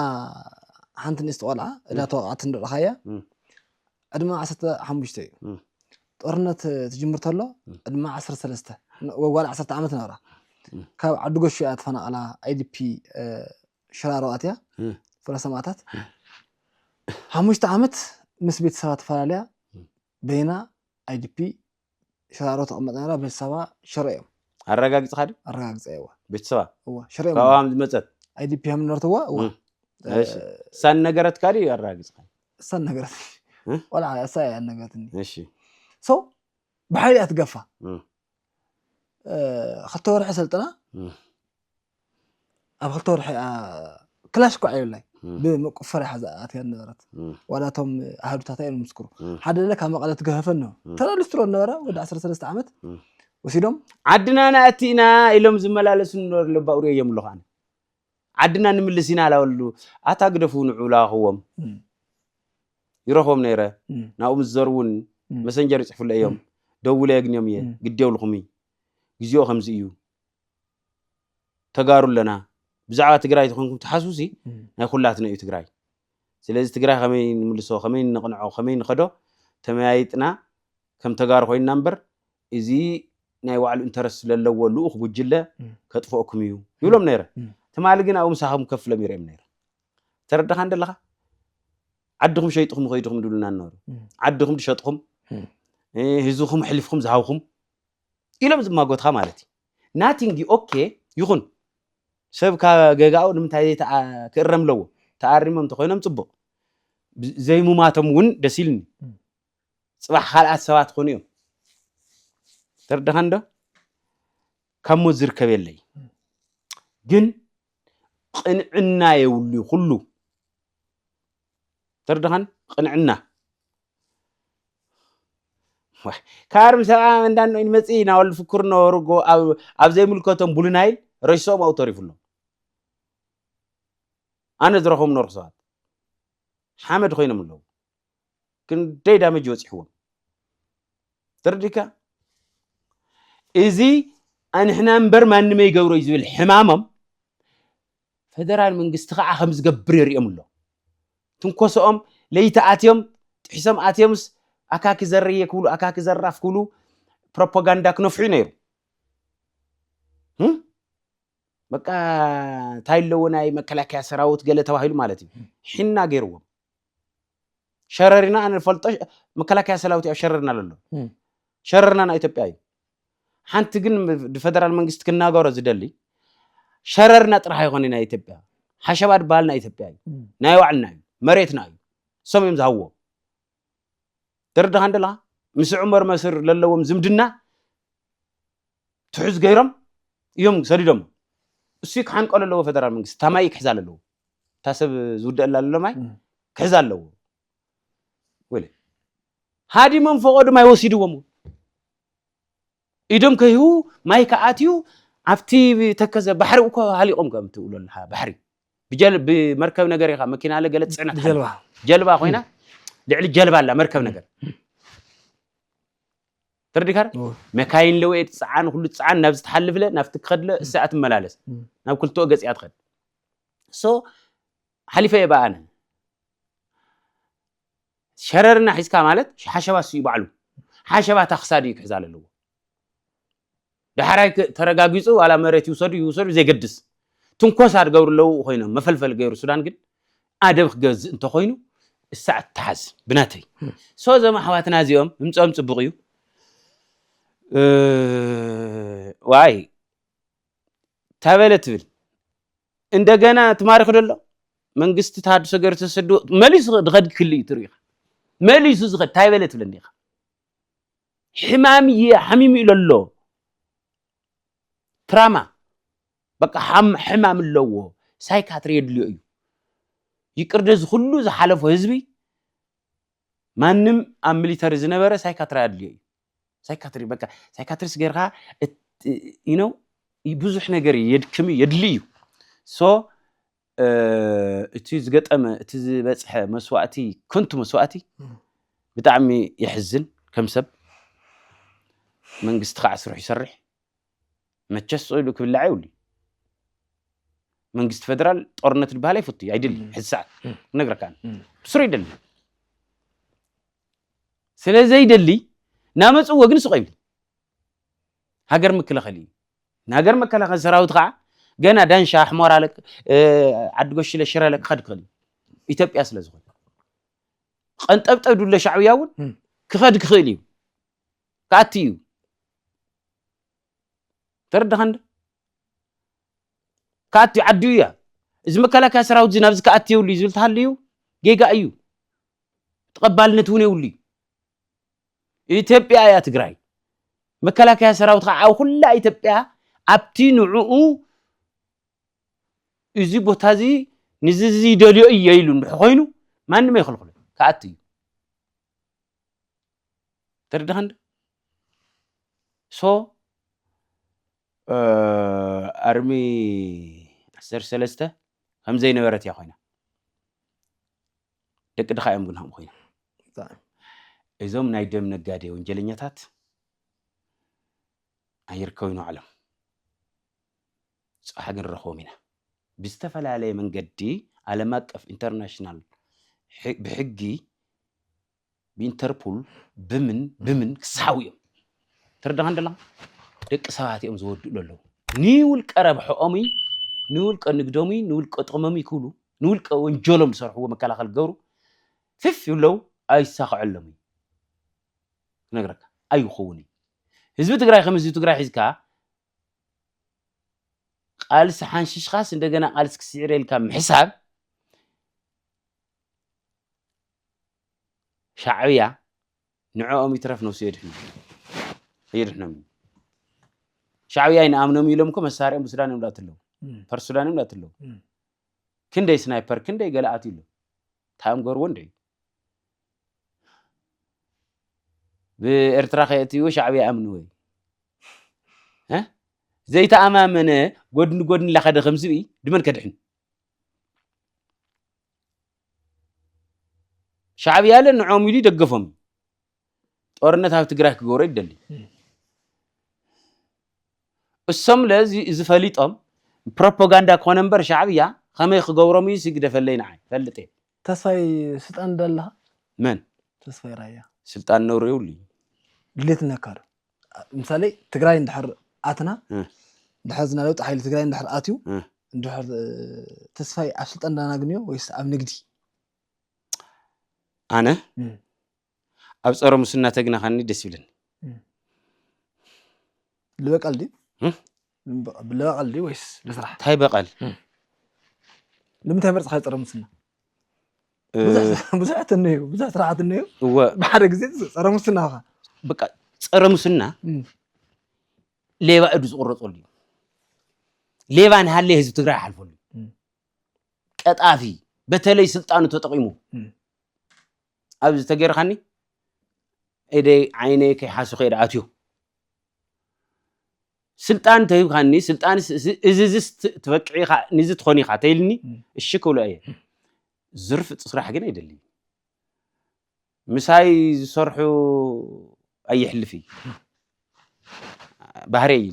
ሓንቲ ንእስቲ ቆልዓ እዳ ተወቕዓት ንረኻያ ዕድመ ዓሰርተ ሓሙሽተ እዩ ጦርነት ትጅምር ተሎ ዕድመ ዓሰርተ ሰለስተ ወጓል ዓሰርተ ዓመት ነበራ ካብ ዓዲ ጎሹ እያ ተፈናቐላ ኣይዲፒ ሽራሮ ኣትያ ፍረ ሰማእታት ሓሙሽተ ዓመት ምስ ቤተሰባ ተፈላለያ በይና IDP ሽራሮ ትቅመጥ ነይራ ቤተሰባ ሽረ እዮም። ኣረጋጊጽኻ ድዩ? ኣረጋግጸ እዋ። ቤተሰባ? እዋ ሽረ እዮም። ካብኡ ሃም ዝመጸት? IDP ሃም ዝነበርትዋ እዋ። እሺ እሳ ነገረትካ ድዩ ኣረጋጊጽኻ? እሳ ነገረትኒ ቆልዓ እሳ እያ ነገረትኒ። እሺ ሶ ብሓይሊ እያ ትገፋ ክልተ ወርሒ ሰልጥና ኣብ ክልተ ወርሒ ክላሽ እኳ የብላይ ብምቁፈር ሓዛ ኣትያ ነበረት ዋላ እቶም ኣሃዱታታ እዮም ምስክሩ ሓደ ለ ካብ መቐለ ትገፈፈ ነ ተራ ሊስትሮ ነበረ ወዲ 13 ዓመት ወሲዶም ዓድና ናእቲ ኢና ኢሎም ዝመላለሱ ንበር ለባእሩ እዮም ኣለኹ ኣነ ዓድና ንምልስ ኢና ላበሉ ኣታ ግደፉ ንዑ ላኹዎም ይረኽቦም ነይረ ናብኡ ምስ ዘሩ እውን መሰንጀር ይፅሕፉለ እዮም ደውለ የግንዮም እየ ግዴውልኹም እዩ ግዜኡ ከምዚ እዩ ተጋሩ ኣለና ብዛዕባ ትግራይ ተኮንኩም ትሓስቡ ሲ ናይ ኩላትና እዩ ትግራይ ስለዚ ትግራይ ከመይ ንምልሶ ከመይ ንቕንዖ ከመይ ንኸዶ ተመያይጥና ከም ተጋሩ ኮይንና እምበር እዚ ናይ ባዕሉ እንተረስ ስለለዎ ልኡኽ ጉጅለ ከጥፍኦኩም እዩ ይብሎም ነይረ ትማሊ ግን ኣብኡ ምሳኹም ከፍ ኢሎም ይርኦም ነይረ ተረዳኻ እንደለኻ ዓድኹም ሸይጥኹም ከይድኹም ድብሉና ነበሩ ዓድኹም ድሸጥኹም ህዝብኹም ሕሊፍኹም ዝሃብኹም ኢሎም ዝማጎትኻ ማለት እዩ ናቲንግ ኦኬ ይኹን ሰብ ካብ ገጋኡ ንምንታይ ዘይ ክእረም ኣለዎ ተኣሪሞም እንተኾይኖም ፅቡቕ ዘይሙማቶም እውን ደስ ኢልኒ ፅባሕ ካልኣት ሰባት ኾኑ እዮም ተረዳኻ እንዶ ካብ ሞት ዝርከብ የለይ ግን ቕንዕና የብሉ ኩሉ ትርድኻን ቅንዕና ካርም ሰብዓ እንዳን መፅ ናወል ፍክር ነበሩ ኣብ ዘይምልከቶም ቡሉናይል ረሽሶም ኣው ተሪፉሎም ኣነ ዝረኸም ነርኩ ሰባት ሓመድ ኮይኖም ኣለዉ ክንደይ ዳመጅ በፂሕዎም ትርዲካ እዚ ኣንሕና እምበር ማንመይ ገብሮ እዩ ዝብል ሕማሞም ፈደራል መንግስቲ ከኣ ከምዝገብር የርእዮም ኣሎ ትንኮሶኦም ለይቲ ኣትዮም ጥሒሶም ኣትዮምስ ኣካኪ ዘርየ ክብሉ ኣካኪ ዘራፍ ክብሉ ፕሮፖጋንዳ ክነፍሑ ነይሩ በቃ እንታይ ኣለዎ ናይ መከላከያ ሰራዊት ገለ ተባሂሉ ማለት እዩ ሒና ገይርዎም ሸረሪና ኣነ ፈልጦ መከላከያ ሰራዊት ኣብ ሸረሪና ለሎ ሸረሪና ናይ ኢትዮጵያ እዩ ሓንቲ ግን ፈደራል መንግስቲ ክናገሮ ዝደሊ ሸረሪና ጥራሕ ኣይኮነ ናይ ኢትዮጵያ ሓሸባ ድበሃል ናይ ኢትዮጵያ እዩ ናይ ባዕልና እዩ መሬትና እዩ እሶም እዮም ዝሃብዎ ተረዳኻ እንደላ ምስ ዑመር መስር ለለዎም ዝምድና ትሑዝ ገይሮም እዮም ሰዲዶም እሱ ክሓንቀሉ ኣለዎ ፈደራል መንግስቲ ታማይ ክሕዛ ኣለዎ እታ ሰብ ዝውደአላ ዘሎ ማይ ክሕዛ ኣለዎ ወለ ሃዲሞም ፈቐዱ ማይ ወሲድዎም ኢዶም ከይሁ ማይ ከኣትዩ ኣብቲ ተከዘ ባሕሪ እኮ ሃሊቆም ከም ትብሎ ኣለካ ባሕሪ ብመርከብ ነገር ኢኻ መኪና ለ ገለ ፅዕነት ጀልባ ኮይና ልዕሊ ጀልባ ኣላ መርከብ ነገር ተረዲካ መካይን ለወ ትፅዓን ኩሉ ትፅዓን ናብዚ ትሓልፍለ ናብቲ ክኸድለ እሳ ትመላለስ ናብ ክልትኦ ገፂኣ ትኸድ ሶ ሓሊፈ እየ በኣነ ሸረርና ሒዝካ ማለት ሓሸባ ስዩ ባዕሉ ሓሸባ እታ ክሳድ እዩ ክሕዛ ኣለዎ ዳሕራይ ተረጋጊፁ ዋላ መሬት ይውሰዱ ይውሰዱ ዘይገድስ ትንኮሳ ዝገብሩ ኣለዉ ኮይኖም መፈልፈል ገይሩ ሱዳን ግን ኣደብ ክገዝእ እንተኮይኑ እሳዕ ትሓዝ ብናተይ ሶ እዞም ኣሕዋትና እዚኦም ምምፅኦም ፅቡቅ እዩ ዋይ ታበለ ትብል እንደገና ትማርክ ደሎ መንግስቲ ተሃድሶ ገይሩ ተሰዱ መሊሱ ድኸድ ክል እዩ ትርኢኻ መሊሱ ዝኸድ ታይበለ ትብል እንዲኻ ሕማም እየ ሓሚሙ ኢሎ ኣሎ ትራማ በቃ ሕማም ኣለዎ ሳይካትሪ የድልዮ እዩ ይቅር ነዚ ኩሉ ዝሓለፎ ህዝቢ ማንም ኣብ ሚሊተሪ ዝነበረ ሳይካትራ ኣድልዮ እዩ ሳይካትሪ በቃ ሳይካትሪስ ጌርካ ዩነው ብዙሕ ነገር የድክም እዩ የድሊ እዩ ሶ እቲ ዝገጠመ እቲ ዝበፅሐ መስዋእቲ ከንቱ መስዋእቲ ብጣዕሚ የሕዝን ከም ሰብ መንግስቲ ከዓ ስርሑ ይሰርሕ መቸስ ጾይሉ ክብላዕ የብሉ መንግስቲ ፈደራል ጦርነት ዝበሃል ኣይፈቱ እዩ ኣይደሊ ሕዚ ሰዓት ክነግረካ ብስሩ ይደሊ ስለ ዘይደሊ ናመፅዎ ግን ስቆ ይብል ሃገር ምክልኸል እዩ ንሃገር መከላኸል ሰራዊት ከዓ ገና ዳንሻ ኣሕሞራ ዓዲ ጎሽለ ሽረ ክኸድ ክኽእል እዩ ኢትዮጵያ ስለ ዝኾነ ቀንጠብጠብ ድሎ ሻዕብያ እውን ክኸድ ክኽእል እዩ ክኣቲ እዩ ተረዳኻን ክኣቲ ዓዱ እያ እዚ መከላከያ ሰራዊት እዚ ናብዚ ክኣቲ የብሉ እዩ ዝብል ተሃልዩ ጌጋ እዩ ተቐባልነት እውን የብሉ እዩ ኢትዮጵያ እያ ትግራይ መከላከያ ሰራዊት ከዓ ኣብ ኩላ ኢትዮጵያ ኣብቲ ንዕኡ እዚ ቦታ እዚ ንዚ ዝደልዮ እየ ኢሉ እንድሕ ኮይኑ ማንም ኣይክልክሉ ክኣቲ እዩ ተረዳኸንዶ ሶ ኣርሚ ዓሰርተ ሰለስተ ከምዘይነበረት እያ ኮይና ደቂ ድኻ እዮም ግን ከምኡ ኮይና እዞም ናይ ደም ነጋዴ ወንጀለኛታት ኣይርከቡ ኢና ዓለም ፅባሕ ግን ንረኽቦም ኢና ብዝተፈላለየ መንገዲ ዓለም ኣቀፍ ኢንተርናሽናል ብሕጊ ብኢንተርፑል ብምን ብምን ክሳሓቡ እዮም ተረዳኻን ደላኻ ደቂ ሰባት እዮም ዝወድኡ ለለው ንውልቀ ረብሐኦም ንውልቀ ንግዶም ንውልቀ ጥቕሞም ክብሉ ንውልቀ ወንጀሎም ዝሰርሕዎ መከላኸል ክገብሩ ፍፍ ይብለው ኣይሳኸዐሎም እዩ ክነግረካ ኣይኸውን እዩ ህዝቢ ትግራይ ከም ህዝቢ ትግራይ ሒዝካ ቃልሲ ሓንሽሽኻስ እንደገና ቃልሲ ክስዕር ኢልካ ምሕሳብ ሻዕብያ ንዕኦም ይትረፍ ነብሱ የድሕኖም የድሕኖም እዩ ሻዕብያ ይንኣምኖም ኢሎም እኮ መሳርኦም ብሱዳን እዮም ላትለው ፐር ሱዳን እዮም ላትለው ክንደይ ስናይፐር ክንደይ ገለኣት ኢሎ እንታይ እዮም ገርዎ እንደ ብኤርትራ ከየእትይዎ ሻዕብያ ኣምኒ ወይ ዘይተኣማመነ ጎድኒ ጎድኒ ላኸደ ከም ዝብኢ ድመን ከድሕን ሻዕብያለ ንዖም ኢሉ ይደገፎም እዩ። ጦርነት ኣብ ትግራይ ክገብሮ ይደሊ እሶምለ እዚ ፈሊጦም ፕሮፓጋንዳ ኮነ እምበር ሻዕብያ ከመይ ክገብሮም እዩ ሲግደፈለይ ንዓይ ፈልጥ እየ ተስፋይ ስልጣን ደለኻ መን ተስፋይ ራያ ስልጣን ነውሪ የብሉ እዩ ድሌት ነካዶ ምሳሌ ትግራይ እንድሕር ኣትና እ። እንድሕር ዝና ለውጢ ሓይሊ ትግራይ እንድሕር ኣትዩ እ። እንድሕር እ፣ ተስፋይ ኣብ ስልጣን ዳናግንዮ ወይስ ኣብ ንግዲ ኣነ እ። ኣብ ፀረ ሙስና ተግናኻኒ ደስ ይብለኒ ልበቃል ድዩ እ? ብበቐል ድዩ ወይስ ብስራሕ እንታይ በቐል ንምንታይ መርፅኻ ፀረ ሙስና ብዙሕ እትንዩ ብዙሕ ስራሕት እነዩ እወ ብሓደ ግዜ ፀረ ሙስና ኻ በቃ ፀረ ሙስና ሌባ እዱ ዝቑረፀሉ እዩ ሌባ ንሃለየ ህዝቢ ትግራይ ይሓልፈሉ እዩ። ቀጣፊ በተለይ ስልጣኑ ተጠቂሙ እም። ኣብዚ ተገይርካኒ ኢደይ ዓይነይ ከይሓሱ ከይደ ኣትዮ ስልጣን ተሂብካኒ ስልጣን እዚዝስ ትበቅዕ ኢኻ ንዚ ትኾን ኢኻ ተይልኒ እሺ ክብሎ እየ ዝርፍፅ ስራሕ ግን ኣይደልይ ምሳይ ዝሰርሑ ኣይሕልፍ እዩ ባህሪ እዩ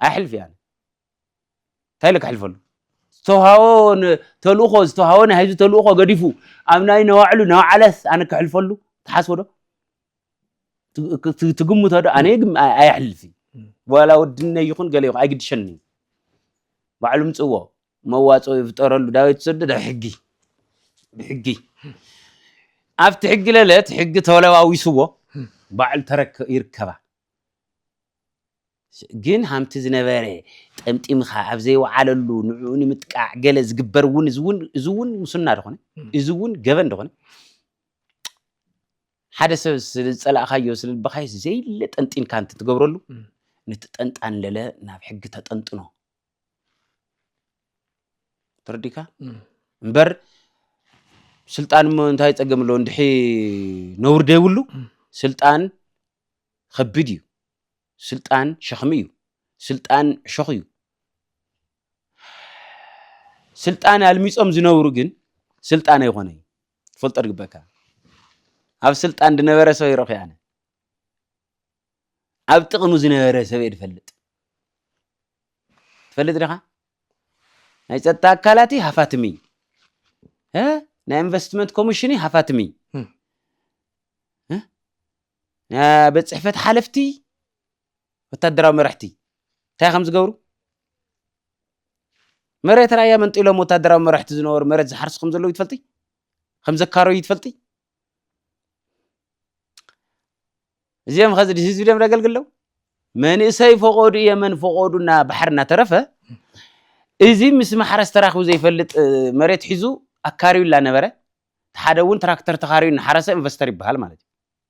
ኣይሕልፍ እያ እንታይ ኢለ ክሕልፈሉ ዝተውሃቦ ተልእኾ ዝተውሃቦ ናይ ህዝቢ ተልእኾ ገዲፉ ኣብ ናይ ነባዕሉ ነባዕለስ ኣነ ክሕልፈሉ ተሓስቦ ዶ ትግምቶ ዶ ኣነ ግን ኣየሕልፍ ዋላ ወድነ ይኹን ገለ ይኹን ኣይግድሸኒ ባዕሉ ምፅዎ መዋፅኦ ይፍጠረሉ ዳዊት ሰደደ ሕጊ ብሕጊ ኣብቲ ሕጊ ለለት ሕጊ ተለዋዊስዎ ባዕሉ ተረክ ይርከባ ግን ሃምቲ ዝነበረ ጠምጢምኻ ኣብ ዘይወዓለሉ ንዕኡ ንምጥቃዕ ገለ ዝግበር እውን እዚ እውን ሙስና ዝኾነ እዚ እውን ገበን ዝኾነ ሓደ ሰብ ስለ ዝጸላእካዮ ስለ ልበኻዮስ ዘይለ ጠንጢንካ እንት ትገብረሉ ነቲ ጠንጣን ለለ ናብ ሕጊ ተጠንጥኖ ተረዲካ እምበር ስልጣን እሞ እንታይ ጸገም ኣለዎ እንድሒ ነውር ደይብሉ ስልጣን ከቢድ እዩ ስልጣን ሸኽሚ እዩ ስልጣን ዕሾኽ እዩ ስልጣን ኣልሚጾም ዝነብሩ ግን ስልጣን ኣይኾነ እዩ ትፈልጦ ድግበካ ኣብ ስልጣን ድነበረ ሰብ ይረኺ ኣነ ኣብ ጥቕሚ ዝነበረ ሰብ እየ ድፈልጥ ትፈልጥ ዲኻ ናይ ፀጥታ ኣካላት ሃፋትም እዩ ናይ ኢንቨስትመንት ኮሚሽን ሃፋትም እዩ ናይ ቤት ፅሕፈት ሓለፍቲ ወታደራዊ መራሕቲ እንታይ ከም ዝገብሩ መሬት ራያ መንጢሎም ወታደራዊ መራሕቲ ዝነበሩ መሬት ዝሓርሱ ከም ዘለዉ ይትፈልጢ ከም ዘካረዩ ይትፈልጢ እዚኦም ከዚ ህዝቢ ደም ደገልግለው መንእሰይ ፈቆዱ እየ መን ፈቆዱ እና ባሕር እናተረፈ እዚ ምስ ማሕረስ ተራኪቡ ዘይፈልጥ መሬት ሒዙ ኣካርዩ እናነበረ ሓደ እውን ትራክተር ተኻርዩ እናሓረሰ ኢንቨስተር ይበሃል ማለት እዩ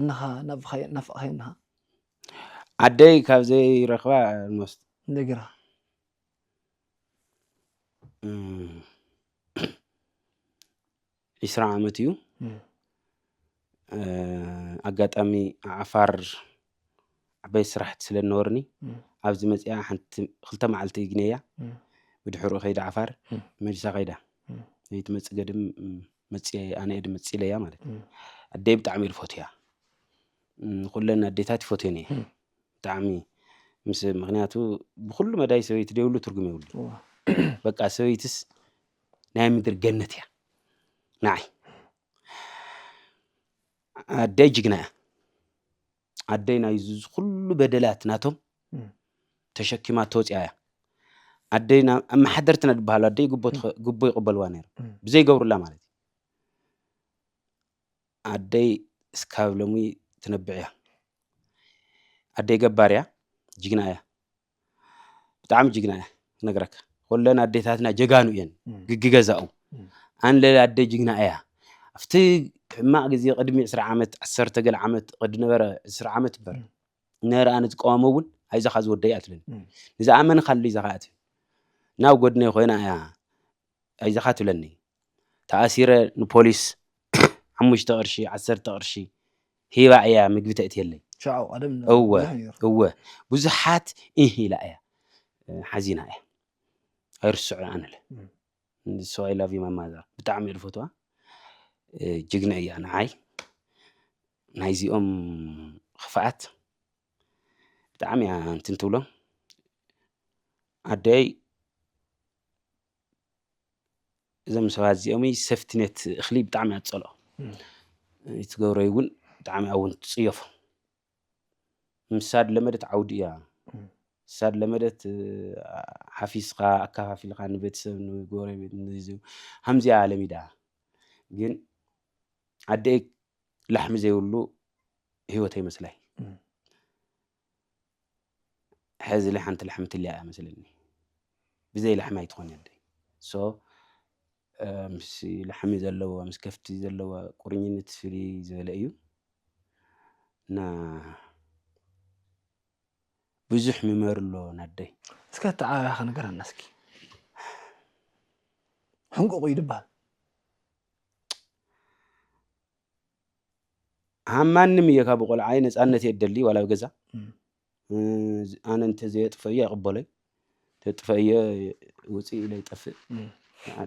እንኻ ናፍኻዮ ናፍቕኻዮ እንኻ። ዓደይ ካብ ዘይረኽባ ኦልሞስት እንደገና ዒስራ ዓመት እዩ። ኣጋጣሚ ዓፋር ዓበይቲ ስራሕቲ ስለ ዝነበሩኒ ኣብዚ መፂኣ ሓንቲ ክልተ መዓልቲ እግነያ ብድሕርኡ ከይደ ዓፋር መሊሳ ከይዳ ዘይትመፅእ ገድም መፅየ ኣነ እየ ድመፅእ ኢለያ ማለት እዩ ኣደይ ብጣዕሚ እየ ዝፈትያ ንኩለን ኣዴታት ይፈትየን እየ ብጣዕሚ ምስ ምክንያቱ ብኩሉ መዳይ ሰበይቲ ደይብሉ ትርጉም የብሉ በቃ ሰበይትስ ናይ ምድሪ ገነት እያ ንዓይ ኣደይ ጅግና እያ ኣደይ ናይ ዝኩሉ በደላት ናቶም ተሸኪማ ተወፅያ እያ ኣደይ ኣመሓደርትና ዝበሃሉ ኣደይ ጉቦ ይቕበልዋ ነይሩ ብዘይገብሩላ ማለት እዩ ኣደይ እስካብ ሎሚ ትነብዕ እያ ኣደይ ገባር እያ ጅግና እያ ብጣዕሚ ጅግና እያ ክነግረካ ኩለን ኣዴታትና ጀጋኑ እየን ግግገዛኡ ኣንለ ኣደ ጅግና እያ ኣብቲ ሕማቅ ግዜ ቅድሚ ዕስራ ዓመት ዓሰርተ ገለ ዓመት ቅድ ነበረ ዕስራ ዓመት በር ነረኣ ንትቀዋሞ እውን ኣይዛኻ ዝወደይ ኣትለን ንዝኣመንካሉ ይዛኻ ኣት ናብ ጎድነይ ኮይና እያ ኣይዘኻ ትብለኒ ተኣሲረ ንፖሊስ ሓሙሽተ ቅርሺ ዓሰርተ ቅርሺ ሂባ እያ ምግቢ ተእትየለይ እወ እወ ብዙሓት እህ ኢላ እያ ሓዚና እያ ኣይርስዖ ኣነለ ሶ ኣይ ላቭ ዩ ማይ ማዘር ብጣዕሚ እየ ዝፈትዋ ጅግና እያ ንዓይ ናይዚኦም ክፍኣት ብጣዕሚ እያ እንትን ትብሎ ኣደይ እዞም ሰባት እዚኦም ሰፍትነት እኽሊ ብጣዕሚ እያ ትፀልኦ ትገብሮ እውን ብጣዕሚ እውን ትፅየፎ ምሳድ ለመደት ዓውዲ እያ ሳድ ለመደት ሓፊስካ ኣካፋፊልካ ንቤተሰብ ንጎረቤት ከምዚያ ለሚዳ ግን ኣደይ ላሕሚ ዘይብሉ ህይወተይ መስላይ ሐዚ ላይ ሓንቲ ላሕሚ ትልያ እያ መስለኒ ብዘይ ላሕሚ ኣይትኾነን ደይ ሶ ምስ ላሕሚ ዘለዎ ምስ ከፍቲ ዘለዎ ቁርኝነት ፍልይ ዝበለ እዩ እና ብዙሕ ምመር ኣሎ ናደይ እስከ ኣተዓባብያኻ ንገረና እስኪ ሕንቁቑ እዩ ድበሃል ኣብ ማንም እየ ካብ ቆልዓይ ነፃነት እየ ደሊ ዋላ ኣብ ገዛ ኣነ እንተዘየጥፈ እየ ኣይቕበሎይ ተጥፈ እየ ውፅእ ኢለ ይጠፍእ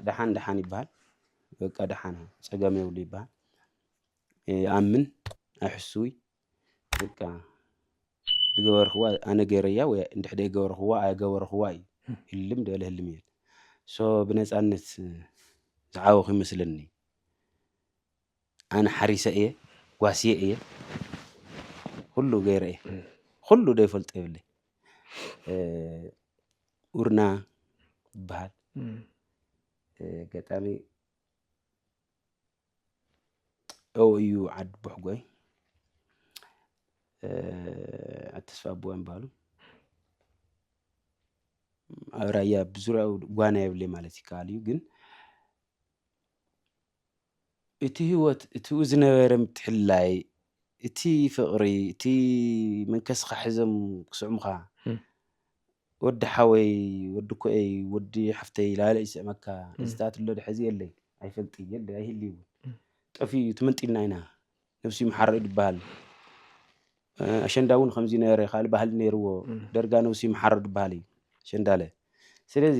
ደሓን ደሓን ይበሃል በቃ ደሓን ፀገም የብሉ ይበሃል ይኣምን ኣይሕስውይ በቃ ዝገበርክዋ ኣነ ገይረያ ወይ እንድሕደ ገበርክዋ ኣይገበርክዋ እዩ ህልም ደለ ህልም እየ ሶ ብነፃነት ዝዓወኹ ይመስለኒ ኣነ ሓሪሰ እየ ጓስየ እየ ኹሉ ገይረ እየ ኹሉ ደይፈልጦ የብለይ ኡርና ይበሃል ገጣሚ እው እዩ ዓዲ ቦሕጎይ ኣተስፋ ኣቦዋ ይበሃሉ ኣብ ራያ ብዙሪያኡ ጓና የብለይ ማለት ይከኣል እዩ ግን እቲ ህይወት እቲኡ ዝነበረ ምትሕልላይ፣ እቲ ፍቕሪ፣ እቲ መንከስኻ ሒዞም ክስዕሙኻ፣ ወዲ ሓወይ፣ ወዲ ኮኤይ፣ ወዲ ሓፍተይ ላለ ይስዕመካ፣ እዚታት ኣሎ ዶ ሕዚ የለይ፣ ኣይፈልጥይ፣ የለይ፣ ኣይህልይ እውን፣ ጠፊኡ እዩ፣ ተመንጢልና ኢና፣ ነብሱ ይምሓሮ እዩ ዝበሃል፣ ኣሸንዳ እውን ከምዚ ነበረ፣ ካልእ ባህሊ ነይርዎ፣ ደርጋ ነብሱ ይምሓሮ ዝበሃል እዩ፣ ኣሸንዳለ። ስለዚ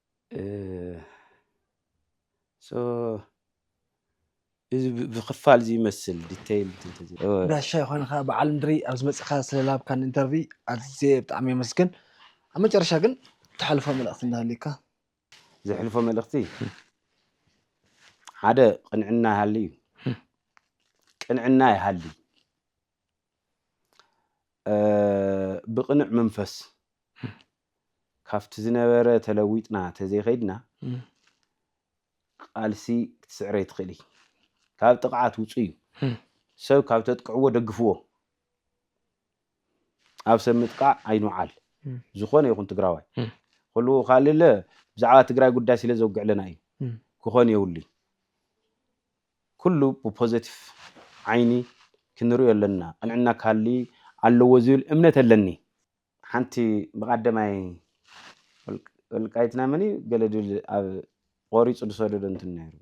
እዚ ብክፋል እዚ ይመስል ዲተይል ጋሻ ይኾንኻ በዓል ምድሪ ኣብ ዝመፅእኻ ስለላብካን ኢንተርቪ ኣዝየ ብጣዕሚ የመስግን ኣብ መጨረሻ ግን ተሕልፎ መልእኽቲ እንዳሃልዩካ ዘሕልፎ መልእኽቲ ሓደ ቅንዕና ይሃልዩ ቅንዕና ይሃሊ ብቅኑዕ መንፈስ ካብቲ ዝነበረ ተለዊጥና ተዘይከይድና ቃልሲ ክትስዕረ ይትኽእል እዩ ካብ ጥቕዓት ውፁ እዩ ሰብ ካብ ተጥቅዕዎ ደግፍዎ ኣብ ሰብ ምጥቃዕ ኣይንውዓል ዝኾነ ይኹን ትግራዋይ ኩሉ ካልለ ብዛዕባ ትግራይ ጉዳይ ስለ ዘውግዕለና እዩ ክኾን የብሉ ኩሉ ብፖዘቲቭ ዓይኒ ክንሪኦ ኣለና ቅንዕና ክሃሊ ኣለዎ ዝብል እምነት ኣለኒ። ሓንቲ ብቃደማይ ወልቃይትና መን እዩ ገለ ድል ኣብ ቆሪፁ ዝሰደዶ እንትን ነይሩ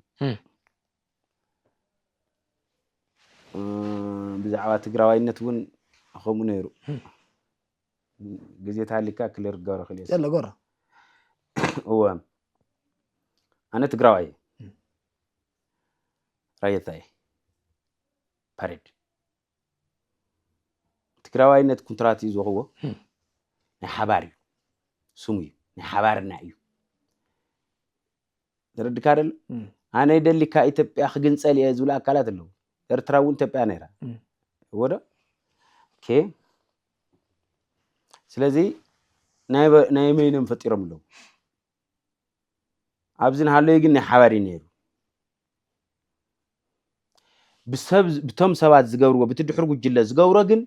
ብዛዕባ ትግራዋይነት እውን ከምኡ ነይሩ ግዜ ተሃሊካ ክሊር ክገብረ ክእል እየ የለ ጎራ እወ ኣነ ትግራዋይ እየ ራያ እንታይ እዩ? ፓሬድ ትግራዋይነት ኩንትራት እዩ ዝወኽዎ ናይ ሓባር እዩ ስሙ እዩ ናይ ሓባርና እዩ ተረድካ ደሎ ኣነ ደሊካ ኢትዮጵያ ክግንፀል እየ ዝብሉ ኣካላት ኣለዉ ኤርትራ እውን ኢትዮጵያ ነይራ ወዶ ኦኬ ስለዚ ናይ መይኖም ፈጢሮም ኣለዉ ኣብዚ ንሃለዩ ግን ናይ ሓባር እዩ ነይሩ ብቶም ሰባት ዝገብርዎ ብቲ ድሕሪ ጉጅለ ዝገብሮ ግን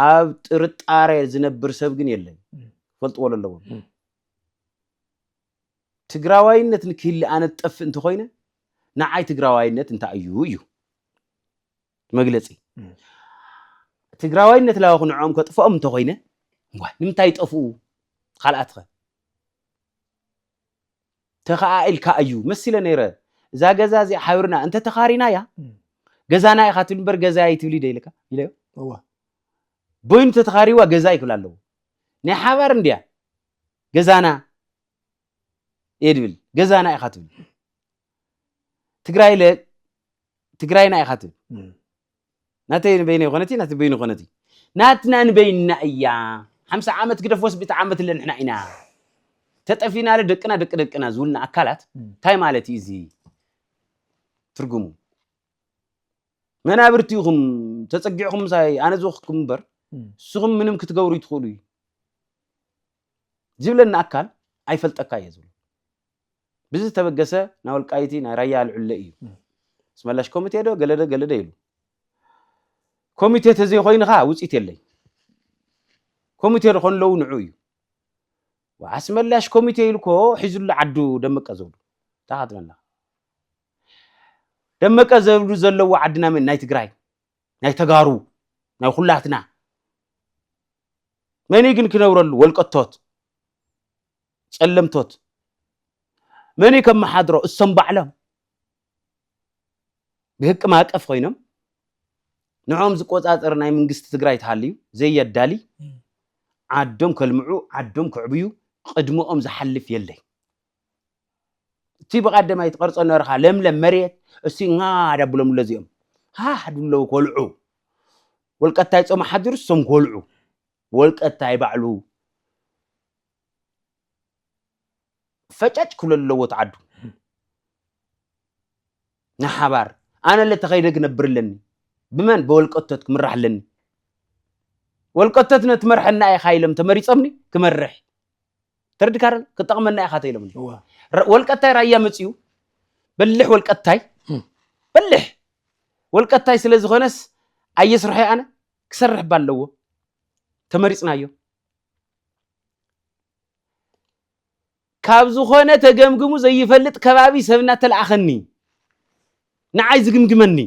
ኣብ ጥርጣረ ዝነብር ሰብ ግን የለን ፈልጥዎ ኣለዎም ትግራዋይነት ንክህሊ ኣነ ትጠፍእ እንተኮይነ ንዓይ ትግራዋይነት እንታይ እዩ እዩ መግለፂ ትግራዋይነት ላዋኹ ንዕኦም ከጥፍኦም እንተኾይነ እዋይ ንምንታይ ይጠፍኡ ካልኣት ኸ ተኸኣ ኢልካ እዩ መሲለ ነይረ እዛ ገዛ እዚኣ ሓብርና እንተ ተኻሪና እያ ገዛና ኢኻ ትብል እምበር ገዛ ይትብሊ ደ ኢልካ ኢለዮ እዋ በይኑ ተተኻሪዋ ገዛ ይክብል ኣለዎ ናይ ሓባር እንድያ ገዛና እየ ድብል ገዛና ኢኻ ትብል ትግራይ ለ ትግራይና ኢኻ ትብል ናተይ ንበይነ ይኾነት ናቲ በይኑ ይኾነት ናትና ንበይንና እያ ሓምሳ ዓመት ግደፍ ወስቢቲ ዓመት ለ ንሕና ኢና ተጠፊና ለ ደቅና ደቂ ደቅና ዝብልና ኣካላት እንታይ ማለት እዩ እዚ ትርጉሙ መናብርቲ ኢኹም ተፀጊዕኹም ምሳይ ኣነ ዝወክኩም እምበር ንስኹም ምንም ክትገብሩ ይትኽእሉ እዩ ዝብለኒ ኣካል ኣይፈልጠካ እየ ዝብሎ ብዚ ዝተበገሰ ናይ ወልቃይቲ ናይ ራያ ኣልዕለ እዩ ስመላሽ ኮሚቴ ዶ ገለደ ገለደ ኢሉ ኮሚቴ ተዘይኮይኑ ኸዓ ውፅኢት የለይ ኮሚቴ ዝኾኑ ኣለዉ ንዑ እዩ ኣስመላሽ ኮሚቴ ኢልኮ ሒዙሉ ዓዱ ደመቀ ዘብሉ ታኻትለና ደመቀ ዘብሉ ዘለዎ ዓድና መን ናይ ትግራይ ናይ ተጋሩ ናይ ኩላትና መን ግን ክነብረሉ ወልቀቶት ጸለምቶት መን እዩ ከመሓድሮ? እሶም ባዕሎም ብህቂ ማእቀፍ ኮይኖም ንዕኦም ዝቆጻጸር ናይ መንግስቲ ትግራይ ተሃልዩ ዘየዳሊ ዓዶም ከልምዑ ዓዶም ክዕብዩ ቅድመኦም ዝሓልፍ የለይ። እቲ ብቀደማይ ትቀርጾ ነርኻ ለምለም መሬት እሲ ና ዳብሎም ኣሎ እዚኦም ሃህ ድለው ኮልዑ ወልቀታይ ጾም ሓዲሩ እሶም ኮልዑ ወልቀታይ ባዕሉ ፈጫጭ ክብሎ ኣለዎ እቲ ዓዱ ንሓባር ኣነለ ተኸይደ ክነብር ኣለኒ ብመን ብወልቀቶት ክምራሕ ኣለኒ ወልቀቶት ነቲ መርሐና ኢኻ ኢሎም ተመሪፆምኒ ክመርሕ ተረድካ ዶ ክጠቕመና ኢኻ ተኢሎምኒ ወልቀታይ ራያ መፅኡ በልሕ ወልቀታይ በልሕ ወልቀታይ ስለ ዝኾነስ ኣየስርሖ ኣነ ክሰርሕ ባ ኣለዎ ተመሪፅናዮ ካብ ዝኾነ ተገምግሙ ዘይፈልጥ ከባቢ ሰብ እናተለኣኸኒ ንዓይ ዝግምግመኒ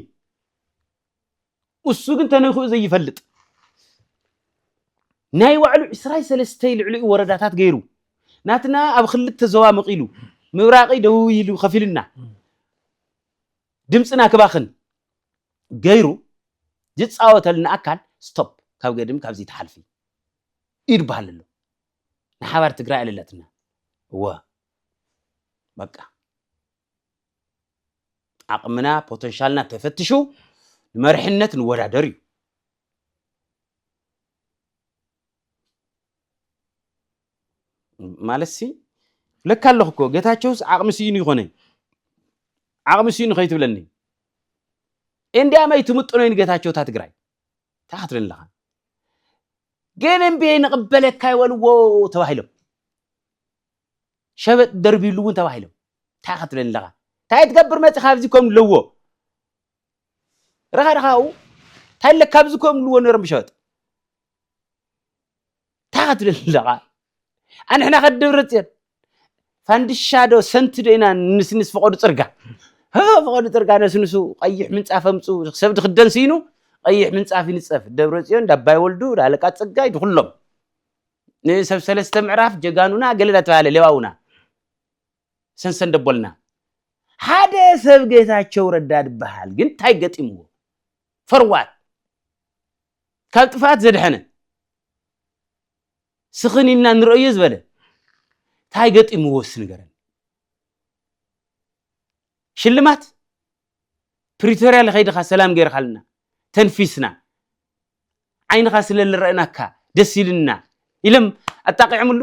እሱ ግን ተነኪኡ ዘይፈልጥ ናይ ባዕሉ ዕስራይ ሰለስተይ ልዕሊኡ ወረዳታት ገይሩ ናትና ኣብ ክልተ ዞባ መቒሉ ምብራቂ ደቡብ ኢሉ ከፊልና ድምፅና ክባኽን ገይሩ ዝፃወተልና ኣካል ስቶፕ ካብ ገድም ካብዚ ተሓልፊ ኢድ በሃል ኣሎ ንሓባር ትግራይ ኣለላትና እወ በቃ ዓቕምና ፖተንሻልና ተፈትሹ ንመርሕነት ንወዳደር እዩ ማለት ሲ ለካ ኣለኹ እኮ ጌታቸውስ ዓቕሚ ስኢኑ ይኾነ ዓቕሚ ስኢኑ ከይትብለኒ እንዲያመይ ትምጥኖይ ንጌታቸውታ ትግራይ ታሓትሪ ኣለኻ ግን እምቢ ኣይንቕበለካ ይበልዎ ተባሂሎም ሸበጥ ደርቢሉ እውን ተባሂሎም እንታይ ክትብል ኣለኻ እንታይ ትገብር መፅኻ ኣብዚ ከም ኣለዎ ረኻ ረኻኡ እንታይ ኣለካ ኣብዚ ከም ኣለዎ ነሮም ብሸበጥ እንታይ ክትብል ኣለኻ ኣንሕና ከደብረፅዮን ፋንድሻ ዶ ሰንቲ ዶ ኢና ንስንስ ፈቐዱ ፅርጋ ፈቐዱ ፅርጋ ነስንሱ ቀይሕ ምንፃፍ ኣምፁ ሰብ ድክደን ስኢኑ ቀይሕ ምንፃፍ ይንፀፍ ደብረፅዮን ዳባይ ወልዱ ዳለቃ ፅጋይ ድኩሎም ንሰብ ሰለስተ ምዕራፍ ጀጋኑና ገለ ዳተባሃለ ሌዋውና ሰንሰን ደቦልና ሓደ ሰብ ጌታቸው ረዳ ድበሃል ግን እንታይ ገጢምዎ ፈርዋት ካብ ጥፍኣት ዘድሐነ ስኽን ኢልና ንርእዮ ዝበለ ታይ ገጢምዎ እስቲ ንገረኒ ሽልማት ፕሪቶርያ ለኸይድኻ ሰላም ገይርኻልና ተንፊስና ዓይንኻ ስለ ልረእናካ ደስ ኢልና ኢሎም ኣጣቂዖምሉ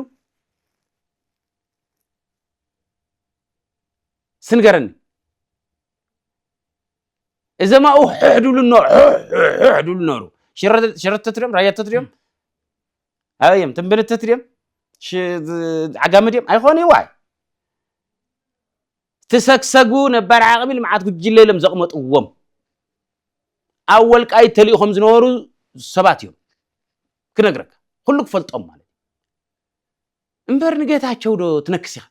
ስንገረኒ እዘም ኣብኡ ሕሕ ድብሉ ሕሕ ድብሉ ነበሩ ሽረተት ድዮም ራያተት ድዮም ኣበይ እዮም ትንብልተት ድዮም ዓጋሚ ድዮም ኣይኮኑ ይዋይ ትሰግሰጉ ነባር ዓቕሚ ልምዓት ጉጅለ ኢሎም ዘቕመጥዎም ኣብ ወልቃይ ተልኢኾም ዝነበሩ ሰባት እዮም ክነግረካ ኩሉ ክፈልጦም ማለት እምበር ንጌታቸው ዶ ትነክስ ኢኻ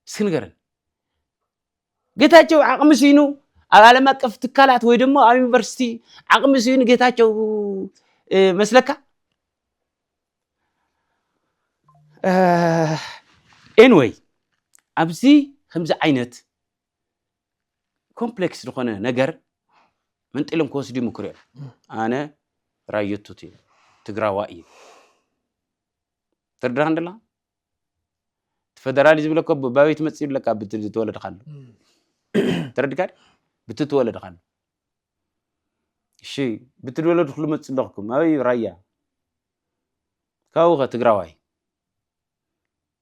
እስኪ ንገረን ጌታቸው ዓቕሚ ስኢኑ ኣብ ዓለም ኣቀፍ ትካላት ወይ ድማ ኣብ ዩኒቨርሲቲ ዓቕሚ ስኢኑ ጌታቸው መስለካ ኤንወይ ኣብዚ ከምዚ ዓይነት ኮምፕሌክስ ዝኾነ ነገር መንጢሎም ክወስዱ ይምክሩ እዮም ኣነ ራየቱት እዩ ትግራዋ እዩ ትርድራ እንደላ ፈደራሊ ዝብለካ ባበይ ትመፅእ ይብለካ ብቲ ዝተወለድካሉ ተረድካኒ ብቲ ተወለድካሉ እሺ ብቲ ዝወለድክሉ መፅእ ኣለኹኩም ኣበይ እዩ ራያ ካብኡ ከ ትግራዋይ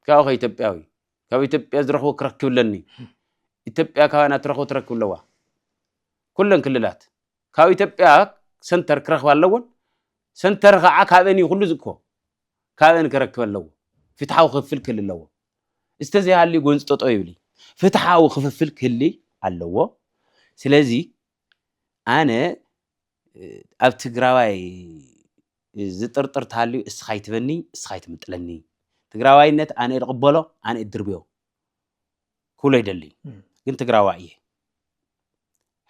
ካብኡ ከ ኢትዮጵያዊ ካብ ኢትዮጵያ ዝረኽቦ ክረክብ ኣለኒ ኢትዮጵያ ካባና ትረኽቦ ትረክብ ኣለዋ ኩለን ክልላት ካብ ኢትዮጵያ ሰንተር ክረክባ ኣለዎን ሰንተር ከዓ ካብአን እዩ ኩሉ ዝእኮ ካብአን ክረክብ ኣለዎ ፍትሓዊ ክፍፍል ክህሊ ኣለዎ እስተዘይሃልዩ ጎንፂ ጠጠው ይብል እዩ ፍትሓዊ ክፍፍል ክህሊ ኣለዎ ስለዚ ኣነ ኣብ ትግራዋይ ዝጥርጥር ተሃልዩ እስኻ ይትበኒ እስኻ ይትምጥለኒ ትግራዋይነት ኣነ ይቕበሎ ኣነ ይድርብዮ ክብሎ ይደሊ ግን ትግራዋይ እየ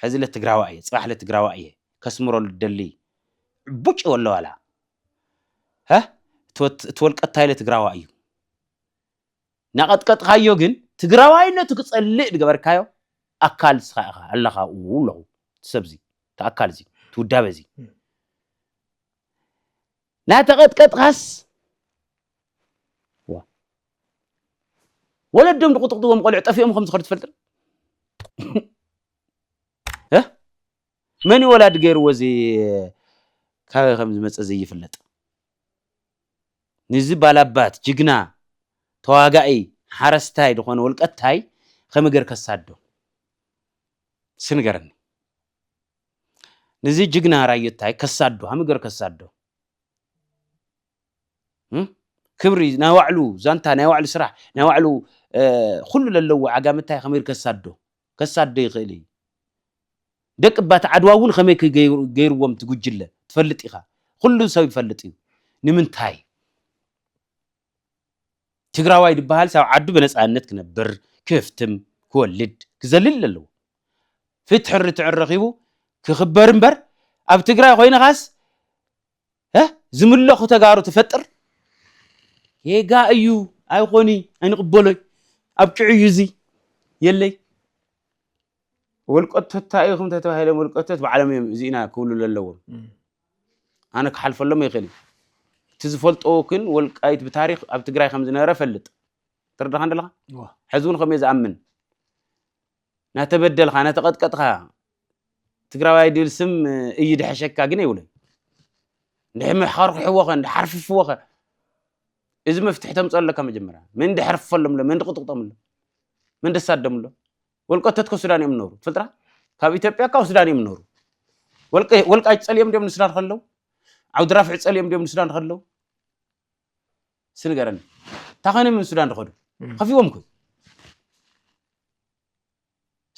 ሕዚ ለ ትግራዋይ እየ ፅባሕ ለ ትግራዋይ እየ ከስምሮ ልደሊ ዕቡጭ ወለ ዋላ እቲ ወልቀታይ ለ ትግራዋይ እዩ ናቐጥቀጥካዮ ግን ትግራዋይነቱ ክፀልእ ዝገበርካዮ ኣካል ንስኻ ኢኻ ኣለኻ ኡ ኣለኹ እቲ ሰብ እዚ እቲ ኣካል እዚ እቲ ውዳበ እዚ ናተቐጥቀጥኻስ ወለዶም ዝቁጥቁጥዎም ቆልዑ ጠፊኦም ከም ዝኸዱ ትፈልጥ መን ወላዲ ገይርዎ እዚ ካበይ ከም ዝመፅእ ዘይፍለጥ ንዚ ባላባት ጅግና ተዋጋኢ ሓረስታይ ዝኾነ ውልቀታይ ከመይ ገር ከሳዶ ስንገረኒ ንዚ ጅግና ራዮታይ ከሳዶ ከመይ ገር ከሳዶ ክብሪ ናይ ባዕሉ ዛንታ ናይ ባዕሉ ስራሕ ናይ ባዕሉ ኩሉ ለለዎ ዓጋመ እንታይ ከመይ ከሳዶ ከሳዶ ይኽእል እዩ ደቂ ባት ዓድዋ እውን ከመይ ገይርዎም ትጉጅለ ትፈልጥ ኢኻ ኩሉ ሰብ ይፈልጥ እዩ ንምንታይ ትግራዋይ ዝበሃል ሳብ ዓዱ ብነፃነት ክነብር ክፍትም ክወልድ ክዘልል ኣለዎ ፍትሕን ርትዕን ረኺቡ ክኽበር እምበር ኣብ ትግራይ ኮይንኻስ እህ ዝምለኹ ተጋሩ ትፈጥር ጌጋ እዩ ኣይኾኒ ኣይንቕበሎይ ኣብ ጭዑ እዩ እዚ የለይ ወልቀቶት እንታይ ኢኹም ተተባሂሎም ወልቀቶት ባዕሎም እዮም እዚ ኢና ክብሉ ዘለዎም ኣነ ክሓልፈሎም ይኽእል እቲ ዝፈልጦ ግን ወልቃይት ብታሪክ ኣብ ትግራይ ከም ዝነበረ ፈልጥ ትርዳኻ እንደለኻ ሕዚ እውን ከምዮ ዝኣምን ናተበደልካ ናተቐጥቀጥካ ትግራዋይ ድብል ስም እዩ ድሐሸካ ግን የብሉን እንድሕር ምሕኸርኩሕዎ ኸ እንዲ ሓርፍፍዎ ኸ እዚ መፍትሒ ተምፀኦ ኣለካ መጀመርያ መን ድሐርፍፈሎም ኣሎ መን ድቕጥቕጦም ኣሎ መን ደሳደም ኣሎ ወልቀተት ከ ሱዳን እዮም ነሩ ትፈልጥራ ካብ ኢትዮጵያ ካብ ሱዳን እዮም ነሩ ወልቃይ ፀልዮም ድዮም ንሱዳን ከለው ዓውዲ ራፍዕ ፀልዮም ድዮም ንሱዳን ከለው እስቲ ንገረኒ እንታይ ኮይኖም እዮም ሱዳን ዝኸዱ ከፊዎም እኮ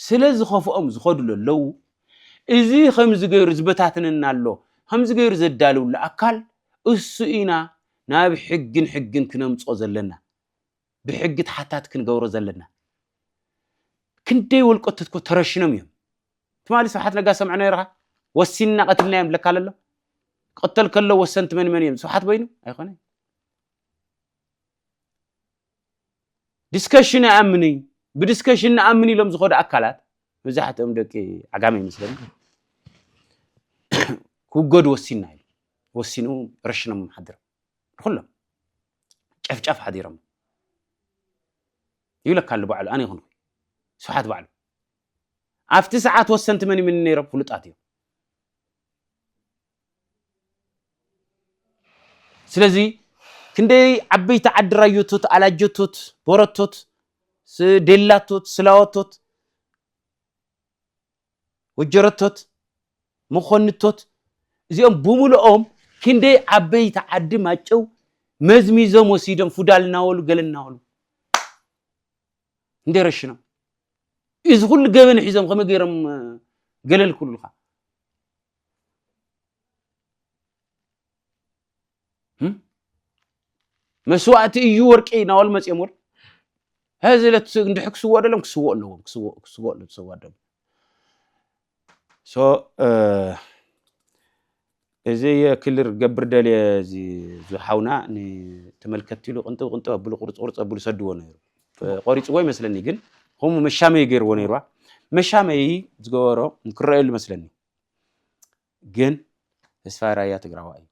ስለ ዝኸፍኦም ዝኸዱ ለለዉ እዚ ከምዚ ገይሩ ዝበታትነና ኣሎ ከምዚ ገይሩ ዘዳልውሉ ኣካል እሱ ኢና ናብ ሕግን ሕግን ክነምፆ ዘለና ብሕጊ ተሓታቲ ክንገብሮ ዘለና ክንደይ ወልቀት እኮ ተረሽኖም እዮም ትማሊ ስብሓት ነጋ ሰምዐ ነይርካ ወሲንና ቀትልና እዮም ለካ ለሎ ክቅተል ከሎ ወሰንቲ መን መን እዮም ስብሓት በይኑ ኣይኮነ ዲስከሽን ኣይኣምን እዩ ብዲስከሽን ንኣምን ኢሎም ዝኸዱ ኣካላት መብዛሕትኦም ደቂ ዓጋመ ይመስለኒ ክውገዱ ወሲንና ኢሉ ወሲኑ ረሽኖም ሓድሮም ንኩሎም ጨፍጫፍ ሓዲሮም ይብለካ ኣሎ ባዕሉ ኣነ ይኹን ስብሓት ባዕሉ ኣብቲ ሰዓት ወሰንቲ መን ይምን ነይሮም ፍሉጣት እዮም ስለዚ ክንደይ ዓበይቲ ዓዲ ራዮቶት ኣላጀቶት ቦረቶት ዴላቶት ስላወቶት ወጀረቶት፣ መኾንቶት እዚኦም ብምልኦም ክንደይ ዓበይቲ ዓዲ ማጨው መዝሚዞም ወሲዶም ፉዳል እናበሉ ገለ እናበሉ እንደ ረሽኖም እዚ ኩሉ ገበን ሒዞም ከመይ ገይሮም ገለል ክብሉካ መስዋእቲ እዩ ወርቂ ናበሉ መፅኦም ወር ሕዚ ዕለት እንድሕ ክስወኦ ደሎም ክስወኦ ኣለዎም ክስወኦ ኣለዎም ሰዋት ደሞ እዚ ክልር ገብር ደልየ እዚ ዝሓውና ንተመልከትቲ ኢሉ ቅንጥብ ቅንጥብ ኣብሉ ቁርፅ ቁርፅ ኣብሉ ሰድዎ ነይሩ ቆሪፅዎ ይመስለኒ ግን ከምኡ መሻመይ ገይርዎ ነይሩዋ መሻመይ ዝገበሮ ክረአየሉ መስለኒ ግን ተስፋይ ራያ ትግራዋይ እዩ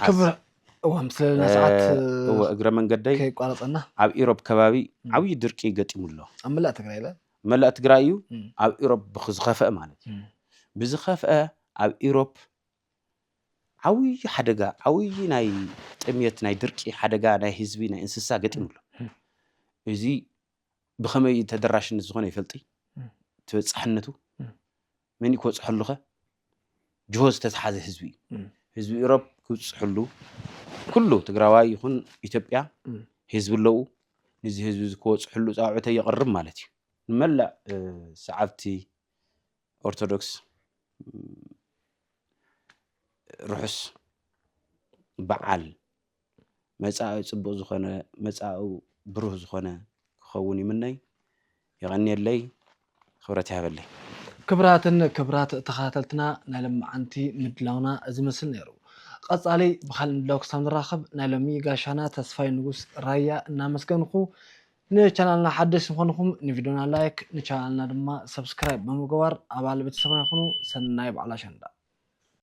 ክብር ሓስ- እዋ ምስ ለለና ሰዓት እወ እግረ መንገደይ ከይቋረፀና ኣብ ኢሮብ ከባቢ ም። ዓብዪ ድርቂ ገጢሙ ኣሎ ኣብ መላእ ትግራይ ለ መላእ ትግራይ እዩ ም። ኣብ ኢሮብ ብኽ- ዝኸፍአ ማለት እዩ ም። ብዝኸፍአ ኣብ ኢሮብ ዓብዪ ሓደጋ ዓብዪ ናይ ጥምየት ናይ ድርቂ ሓደጋ ናይ ህዝቢ ናይ እንስሳ ገጢሙ ኣሎ ም። እዚ ብኸመይ ተደራሽነት ዝኾነ ይፈልጢ ም። ተበፃሕነቱ ም። መን እዩ ክበፅሐሉኸ ጅሆ ዝተትሓዘ ህዝቢ እዩ እም። ህዝቢ ኢሮብ ክብፅሕሉ ኩሉ ትግራዋይ ይኹን ኢትዮጵያ እም። ህዝቢ ኣለዉ ንዚ ህዝቢ እዚ ክበፅሕሉ ፃውዕተይ የቕርብ ማለት እዩ ንመላእ እ፣ ሰዓብቲ ኦርቶዶክስ እም፣ ርሑስ በዓል መጻኢ ጽቡቅ ዝኮነ መጻኡ ብሩህ ዝኮነ ክከውን ይምነይ የቀንየለይ ክብረት ይሃበለይ። ክብራትን ክብራት ተከታተልትና ናይ ለማዓንቲ ምድላውና እዚ መስል ነይሩ ቀፃሊ ብካልእ ምድላው ክሳብ ንራከብ ናይ ሎሚ ጋሻና ተስፋይ ንጉስ ራያ እናመስገንኩ ንቻናልና ሓደሽቲ ምኮንኩም ንቪድዮና ላይክ ንቻናልና ድማ ሰብስክራይብ ብምግባር ኣባል ቤተሰብና ኩኑ ሰናይ በዓል ኣሸንዳ።